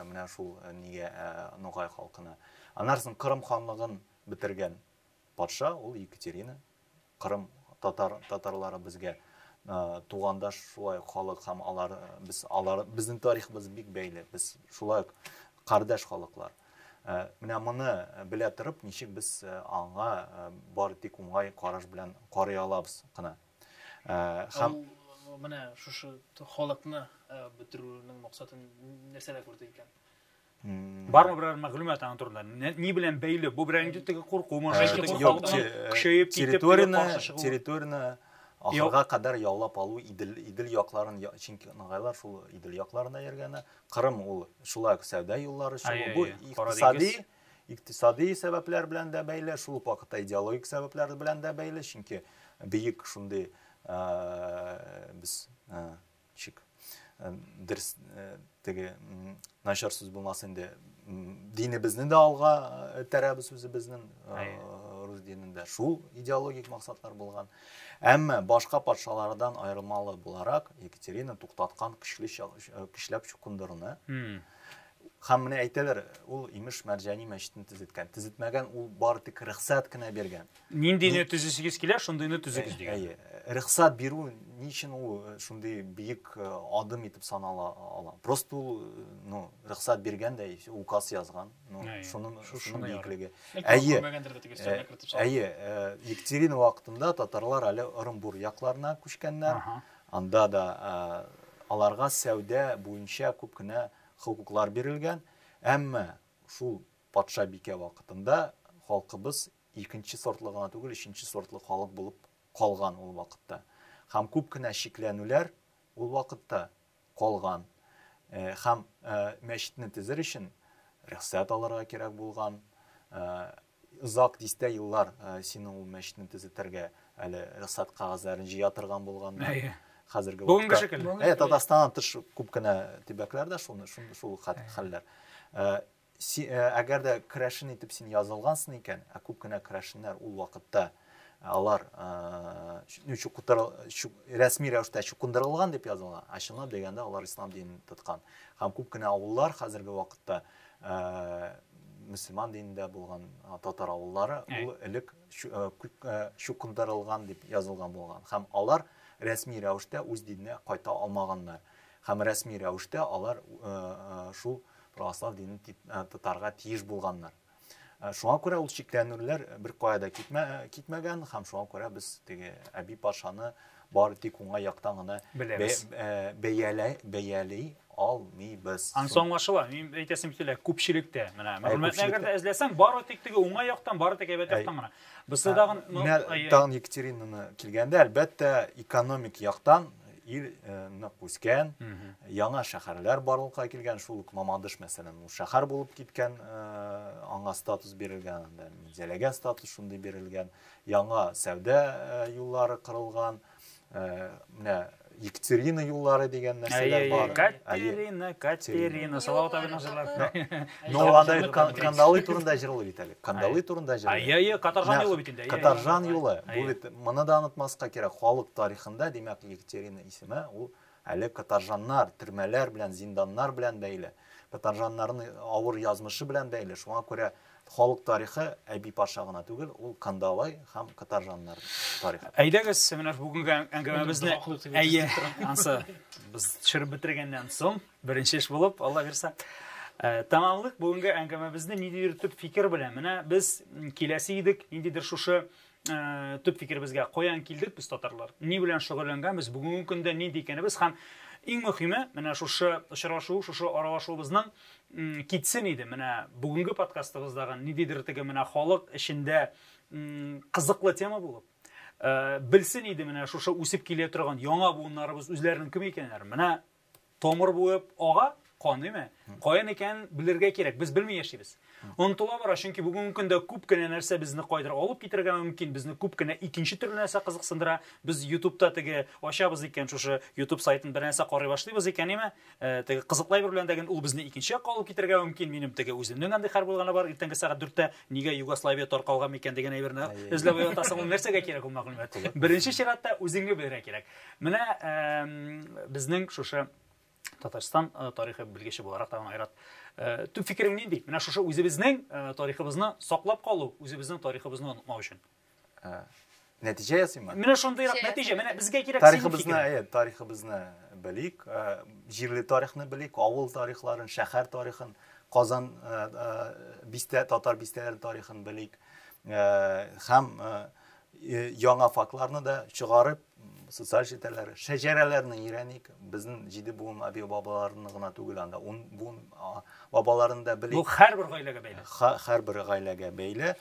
Менә шул нигә Ногай халкына. Аннары соң Кырым ханлыгын бетергән. Патша ул Екатерина, Кырым татар татарлары безгә тугандаш шулай ук халык һәм алар без алар безнең тарихыбыз бик бәйле. Без шулай ук кардәш халыклар. Менә моны белә торып, ничек без аңа бар тик уңай караш белән карый алабыз кына. Һәм менә шушы халыкны бетерүнең максатын нәрсәдә күрде икән? Бармы берәр мәгълүмат аның турында? Ни белән бәйле? Бу беренче теге курку, монда теге халыкның көчәеп китеп территорияне территорияне ахырга кадәр яулап алу Идел Идел якларын чөнки нагайлар шул Идел якларында йөргәне. Кырым ул шулай ук сәүдә юллары өчен бу икътисади икътисади сәбәпләр белән дә бәйле, шул ук вакытта идеологик сәбәпләр белән дә бәйле, чөнки бөек шундый без Чик. Дөрес, теге начар сүз булмас инде. Динебезне дә алга этәрәбез үзебезнең рус динендә. Шул идеологик максатлар булган. Әмма башка патшалардан аермалы буларак Екатерина туктаткан көчле көчләп чукындыруны. Һәм менә әйтәләр, ул имеш Мәрҗани мәчетен төзеткән. Төзетмәгән, ул бары тик рөхсәт кенә биргән. Ниндине төзисегез килә, шундыйны төзегез дигән. Әйе. Рөхсәт бирү ни өчен ул э, шундый бөек э, адым итеп санала ала? Просто ул, э, ну, рөхсәт биргән дә, указ язган. Ну, шуның шуның бөеклеге. Әйе. Әйе, Екатерина вакытында татарлар әле Ырымбур якларына күчкәннәр. Анда да аларга сәүдә буенча күп кенә Хокуклар бирелгән, әмма шул патша-бикә вакытында халкыбыз икенче сортлы гына түгел, өченче сортлы халык булып калган ул вакытта. Һәм күп кенә чикләнүләр ул вакытта калган. Һәм мәчетне төзер өчен рөхсәт алырга кирәк булган. Озак дистә еллар синең ул мәчетне төзетергә әле рөхсәт кәгазьләрен җыя торган булганнар. Әйе. Хәзерге вакытта. Бүгенге шикелле. Әйе, Татарстаннан тыш күп кенә төбәкләрдә шуны шул хәлләр. Әгәр дә керәшен итеп син язылгансың икән, ә күп кенә керәшеннәр ул вакытта алар рәсми рәвештә чукындырылган дип язылган, ә чынлап дигәндә алар ислам динен тоткан. Һәм күп кенә авыллар хәзерге вакытта мөселман динендә булган татар авыллары ул элек чукындырылган дип язылган булган һәм алар рәсми рәвештә үз диненә кайта алмаганнар һәм рәсми рәвештә алар шул православ динен тотарга тиеш булганнар шуңа күрә ул чикләнүләр бер кая да китмәгән һәм шуңа күрә без теге әби патшаны Бары тик уңай яктан гына Беләбез. бәяләй, бәяли алмыйбыз. Анысы аңлашыла. Мин әйтәсем килә, күпчелектә, менә мәгълүматны әгәр дә эзләсәң, бары тик теге уңай яктан, бары тик әйбәт яктан гына. Берсе тагын, ну, Менә әйе. тагын Екатеринаны килгәндә, әлбәттә, экономик яктан ил э, нык үскән, яңа шәһәрләр барлыкка килгән, шул ук Мамадыш, мәсәлән, ул шәһәр булып киткән, э, аңа статус бирелгән, анда Минзәләгә статус шундый бирелгән. Яңа сәүдә юллары кырылган, менә Екатерина юллары дигән нәрсәләр бар. Катерина, Катерина, Салават абыйның җырлары. Но анда Кандалы турында җырлый бит әле. Кандалы турында җырлый. Ай, ай, Катаржан юлы бит инде. Катаржан юлы. Бу бит моны да онытмаска кирәк. Халык тарихында, димәк, Екатерина исеме ул Әле катаржаннар, төрмәләр белән, зинданнар белән бәйле, катаржаннарның авыр язмышы белән бәйле. Шуңа күрә халык тарихы Әби Паша гына түгел, ул Кандалай һәм катаржаннар тарихы. Әйдәгез, менә бүгенге әңгәмәбезне, әйе, ансы без төшереп бетергәннән соң, беренче эш булып, Алла бирсә, тәмамлыйк бүгенге әңгәмәбезне ниндидер төп фикер белән. Менә без киләсе идек, ниндидер шушы Э, төп фикеребезгә каян килдек без татарлар ни белән шөгыльләнгәнбез бүгенге көндә нинди икәнебез һәм иң мөһиме менә шушы очрашу шушы аралашуыбызның китсен иде менә бүгенге подкастыбыздагы ниндидер теге менә халык эчендә кызыклы тема булып э, белсен иде менә шушы үсеп килә торган яңа буыннарыбыз үзләренең кем икәннәрен менә Тамыр буып ага, каныймы? Кая микән белергә кирәк, без белми яшибез. Онтыла бара, чөнки бүгенге көндә күп кенә нәрсә безне кайдыр алып китергә мөмкин, безне күп кенә икенче төрле нәрсә кызыксындыра. Без YouTube-та теге ачабыз икән, шушы YouTube сайтын бер нәрсә карый башлыйбыз икән, име? Э, теге кызыклай бер белән дә ул безне икенче якка алып китергә мөмкин. Минем теге үземнең андый хәл булганы бар, иртәнге сәгать 4-тә нигә Югославия таркалган микән дигән әйберне эзләп ятасың, ул нәрсәгә кирәк ул мәгълүмат? Беренче чиратта үзеңне белергә кирәк. Менә безнең шушы Татарстан э, тарихы белгече буларак тагын Айрат э, төп фикерең нинди? Менә шушы үзебезнең э, тарихыбызны саклап калу, үзебезнең тарихыбызны онытмау өчен. Ә, нәтиҗә ясыймы? Менә шундыйрак нәтиҗә. Менә безгә кирәк тарихыбызны, әйе, тарихыбызны белик, җирле тарихны белик, авыл тарихларын, шәһәр тарихын, Казан бистә татар бистәләрен тарихын белик һәм Э, яңа фактларны да чыгарып социаль челтәрләр шәҗәрәләрне өйрәник безнең җиде буын аби бабаларны гына түгел анда ун буын бабаларын да белик бу һәрбер гаиләгә бәйле һәрбер гаиләгә бәйле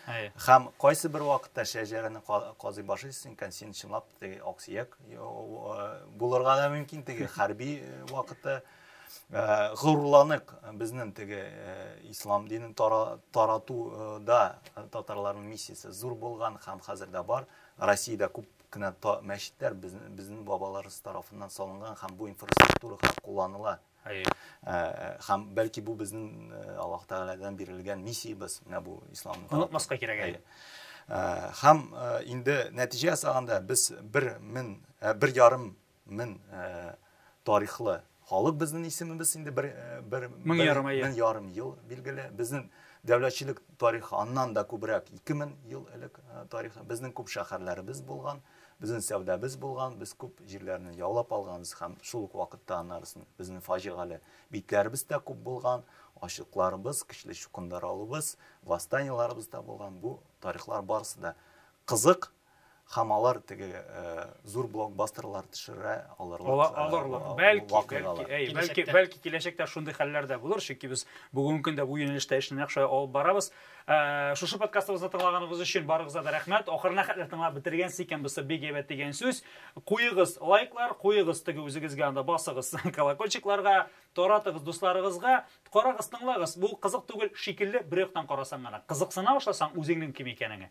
һәм кайсы бер вакытта шәҗәрәне казый башы исең икән син чынлап теге аксөяк э, булырга да мөмкин теге хәрби э, вакытта Э, горурланык безнең теге э, ислам динен таратуда э, татарларның миссиясе зур булган һәм хәзер дә бар россиядә күп кенә мәчетләр безнең бабаларыбыз тарафыннан салынган һәм бу инфраструктурага кулланыла һәм бәлки бу безнең аллаһ тәгаләдән бирелгән миссиябез менә бу ислам онытмаска кирәк әйе һәм инде нәтиҗә ясаганда без бер мең бер ярым Мең тарихлы халык безнең исемебез инде бер бер мең ярым әйе мең ярым ел билгеле безнең дәүләтчелек тарихы аннан да күбрәк ике мең ел элек тарихы безнең күп шәһәрләребез булган Безнең сәүдәбез булган, без күп җирләрне яулап алганбыз һәм шул ук вакытта аннарысын безнең фаҗигале битләребез дә күп булган, ачлыкларыбыз, көчле чукындырылуыбыз, восстаниеларыбыз да булган. Бу тарихлар барысы да кызык Һәм алар теге зур блокбастерлар төшерә алырлык. Алырлык. Бәлки, бәлки, бәлки, бәлки киләчәктә шундый хәлләр дә булыр, чөнки без бүгенге көндә бу юнәлештә эшне нәкъ шулай алып барабыз. Шушы подкастыбызны тыңлаганыгыз өчен барыгызга да рәхмәт. Ахырына хәтле тыңлап бетергәнсез икән, бусы бик әйбәт дигән сүз. Куегыз лайклар, куегыз теге үзегезгә анда басыгыз колокольчикларга, таратыгыз дусларыгызга. Карагыз, тыңлагыз. Бу кызык түгел шикелле бер яктан карасаң гына. Кызыксына башласаң үзеңнең кем икәнеңә,